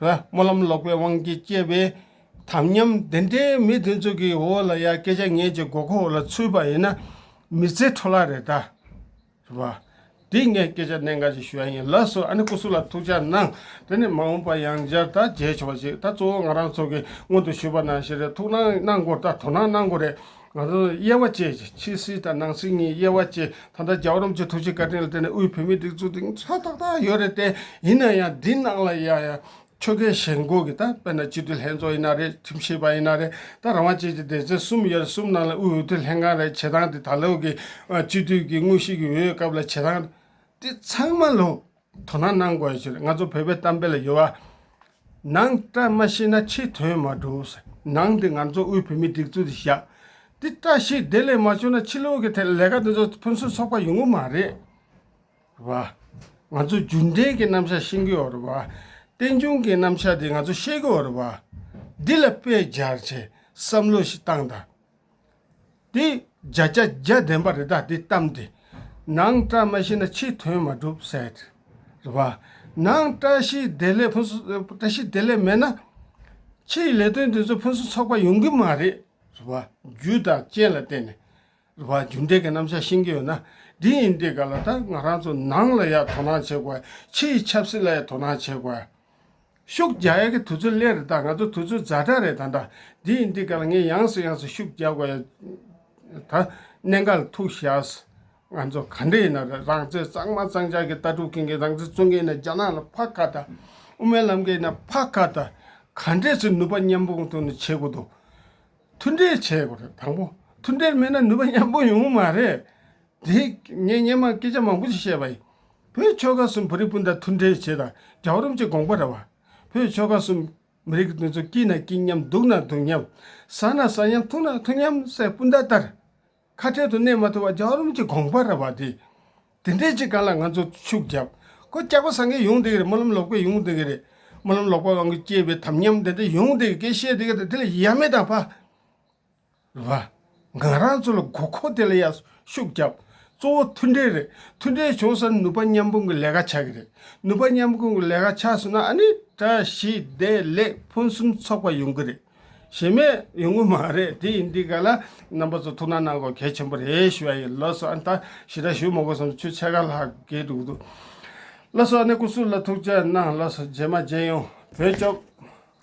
Speaker 1: སྨོན་ལམ་ལོག་པའི་དབང་གིས་སྐྱེས་པའི་དམ་ཉམས་དེ་འདྲའི་མི་དེ་ཚོ་གི་འོག་ལ་ཡ་སྐད་ཆ་ངན་གྱི་མགོ་ཁུག་ལ་ཚུད་པ་ཡིན་ན་མི་ཚེ་འཕྲོ་བརླག་རེད་ད། ཞུ་བ། འདིས་ངས་སྐད་ཆ་གནད་འགག་ཅིག་ཞུ་ཡ་ཡིན་ལགས་སོ་ཨ་ནི་སྐུ་གཟུགས་ལ་ཐུགས་ཅག་གནང་དེ་ནས་མ་འོངས་པ་ཡང་བསྐྱར་ད་མཇལ་ཆོག་ཅིག་ད་གཙོ་བོ་ང་རང་ཚོ་གི་སྔོན་དུ་ཞུས་པ་ནང་བཞིན་རེད་ཐུགས་སྣང་གནང་དགོས་ད་དོ་སྣང་གནང་དགོས་རེད། ང་ཚོ་དབྱེ་བ་བཅས་ཀྱི་ཕྱི་སྲིད་དང་ནང་སྲིད་གཉིས་དབྱེ་བ་བཅས་ད་ལྟ་རྒྱ་གར་རུམ་གྱི་ཐུགས་རྗེ་བཀའ་དྲིན་ལ་བརྟེན་ནས་དབུས་བོད་མིའི་སྒྲིག་འཛུགས་དེང་ཆ་ཏག་ཏག་ཡོད་རེད་དེ་ཡིན་ན་ཡང་འདི་ནང་ལ་ཡ་ཡ་ཆོལ་ཁའི་ཞེན་ལྐོག་གི་ད་དཔེར་ན་སྤྱི་འཐུས་ལྷན་ཚོགས་ཡིན་ན་རེད་ཁྲིམས་ཞིབ་པ་ཡིན་ན་རེད་ད་རང་དབང་ཅན་གྱི་སྡེ་ཚན་གསུམ་ཡོད་རེད་གསུམ་ནང་ལ་དབུས་འོས་བསྡུ་ལྷན་ཁང་རེད་བྱེད་སྟངས་དེ་ད་ལོའི་གི་སྤྱི་འཐུས་ཀྱི་དངོས་གཞི་གི་འོས་སྐབས་ལ་བྱེད་སྟངས་དེ་ཚང་མ་ལོངས། དོ་སྣང་གནང་དགོས་ཟེར་ང་ཚོ་བོད་པའི་གཏམ་དཔེ་ལ་ཡོད་བ། ནང་བཀྲ་མ་ཤིས་ན་ཕྱི་དོན་མ་གྲུབ་ཟེར་ནང་དེ་ང་ཚོ་དབུས་བོད་མིའི་སྒྲིག་འཛུགས་དེ་བཞག་དེ་བཀྲ་ཤིས་བདེ་ལེགས་མ་བྱུང་ན་ཕྱི་ལོག་གི་ཐད་ལས་ཀ་དེ་ཚོ་ཕུན་སུམ་ཚོགས་པ་ཡོང་གི་མ་རེད་བ། ང་ཚོ་རྒྱུན་གཏན་གྱི་རྣམ་གཞག་ཤེས་ཀྱི་ཡོད་རེད་བ། བསྟན་འབྱུང་གི་རྣམ་གཞག་དེ་ང་ཚོ་ཤེས་ཀྱི་ཡོད་རེད་བ། འདི་ལ་དཔེ་སྦྱར་བྱས་བསམ་བློ་ཞིག་བཏང་དང། དེ་བརྒྱ་བརྒྱ་བརྒྱ་བདེན་པ་རི་དྭགས་འདི་གཏམས་ཏེ། ནང་བཀྲ་མ་ཤིས་ན་ཕྱི་དོན་མ་གྲུབ་བསལ། རེ་བ། ནང་བཀྲ་ཤིས་བདེ་ལེགས་ཕུན་སུ་བཀྲ་ཤིས་བདེ་ལེགས་མེད་ན། ཕྱིའི་ལས་དོན་འདི་ཚོ་ཕུན་སུ་ཚོགས་པ་ཡོང་གི་མ་རེད། རེ་བ། རྒྱུ་དང་རྐྱེན་ལ་བརྟེན་ནས། རེ་བ། རྒྱུ་འབྲས་ཀྱི་རྣམ་གཞག་ཤེས་ཀྱི་ཡོད་ན། འདི་ཡིན་འདི་ག་ལ་ད་ང་རང་ཚོ་ནང་ལ་ཡར་དོ་སྣང་བྱེད་དགོས། ཕྱིའི་ཆབ་སྲིད་ལ་ཡར་དོ་སྣང་བྱེད་དགོས། ཤུགས་རྒྱག་ཡག་གི་དུས་ཚོད་སླད་རེ་ད་ང་ཚོ་དུས་ཚོད་རྫ་དྲག་རེད་ད་འདྲ་འདི་ཡིན་འདི་ག་ལ་ངས་ཡངས་སུ་ཡངས་སུ་ཤུགས་རྒྱག་དགོས་ཡ་ད་གནད་འགག་ལ་ཐུག་ཤགས། ང་ཚོ་ག་འདྲ་ཡིན་ན་རང་བཙན་གཙང་མ་གཙང་ཆགས་ཀྱི་ལྟ་གྲུབ་མཁན་གྱི་རང་བཙན་རྩོད་མཁན་ནས་རྒྱ་ནག་ལ་ཕ་ཁ་ད། དབུ་མའི་ལམ་མཁན་ནས་ཕ་ཁ་ད། ག་འདྲས་སུ་ནུས་པ་མཉམ་སྤུངས་ཐུག་ནས་བྱེད་དགོས་འདུག་མཐུན་འབྲེལ་བྱེད་དགོས་རེད་དང་པོ་མཐུན་འབྲེལ་མེད་ན་ནུས་པ་མཉམ་སྤུངས་ཡོང་གི་མ་རེད། དེས་ངས་སྙན་མང་སྐད་ཆ་མང་པོ་ཞིག་བཤད་པ་ཡིན། བོད་ཆོལ་ཁ་གསུམ་བོད་རིགས་སྤུན་ཟླ་མཐུན་འབྲེལ་བྱེད་དང་རྒྱབ་རོམ་བྱེད་དགོངས་པ་ར་བ། བོད་ཆོལ་ཁ་གསུམ་མི་རིགས་དེ་ཚོ་སྐྱིད་ན་སྐྱིད་མཉམ་སྡུག་ན་སྡུག་མཉམ། ཟ་ན་ཟ་མཉམ་འཐུང་ན་འཐུང་མཉམ་སའི་སྤུན་ཟླ་ལྟར། ཁ་བྲལ་དུ་གནས་མ་ཐུབ་པ་རྒྱབ་རོམ་གྱི་དགོངས་པ་ར་བ་དེ། དེ་འདྲའི་ཅིག་ག་ལ་ང་ཚོ་ཕྱུག་རྒྱབ་ཁོ་སྐྱག་པ་ཟ་མཁན་ཡོང་སྡད་གི་རེད་སྨོན་ལམ་ལོག་པས་ཡོང་སྡད་གི་རེད། སྨོན་ལམ་ལོག་པ་དབང་གིས་སྐྱེས་པའི་དམ་ཉམས་དེ་འདྲ་ཡོང་སྡད་གི་སྐད་བཤད་སྡད་གི་རེད་དེ་ལ་ཡ་མེད་དང་ཕ། ལ། ང་རང་ཚོ་ལ་དགོས་མཁོ་དེ་ལ་ཡར་ཤུགས་བརྒྱབ། གཙོ་བོ་མཐུན་སྒྲིལ་རེད། མཐུན་སྒྲིལ་བྱུང་ས་ནུས་པ་མཉམ་སྤུངས་ཀྱི་ལས་ཀ་ཆགས་ཀྱི་རེད། ནུས་པ་མཉམ་སྤུངས་ཀྱི་ལས་ཀ་ཆགས་སོང་ན་ཨ་ནི་བཀྲ་ཤིས་བདེ་ལེགས་ཕུན་སུམ་ཚོགས་པ་ཡོང་གི་རེད། ཞེ་མེད་ཡོང་གི་མ་རེད་དེ་ཡིན་དེ་ག་ལ་རྣམ་པ་ཚོ་ཐུགས་སྣང་གནང་དགོས་གལ་ཆེན་པོ་རེད་ཞུ་བ་ཡིན་ལོ་སོ་ཨ་ནི་ད་ཞི་དྲག་ཞུ་མ་དགོས་སམ་ཆུ་ཚད་ག་ལྷག་རྒས་འགྲོ་གི་འདུག་ལོ་སོ་ཨ་ནི་སྐུ་སྲུང་ལ་ཐུགས་རྗེ་གནང་ལོ་སོ་རྗེས་མ་རྗེས་ཡོང་བོད་སྐྱོབས།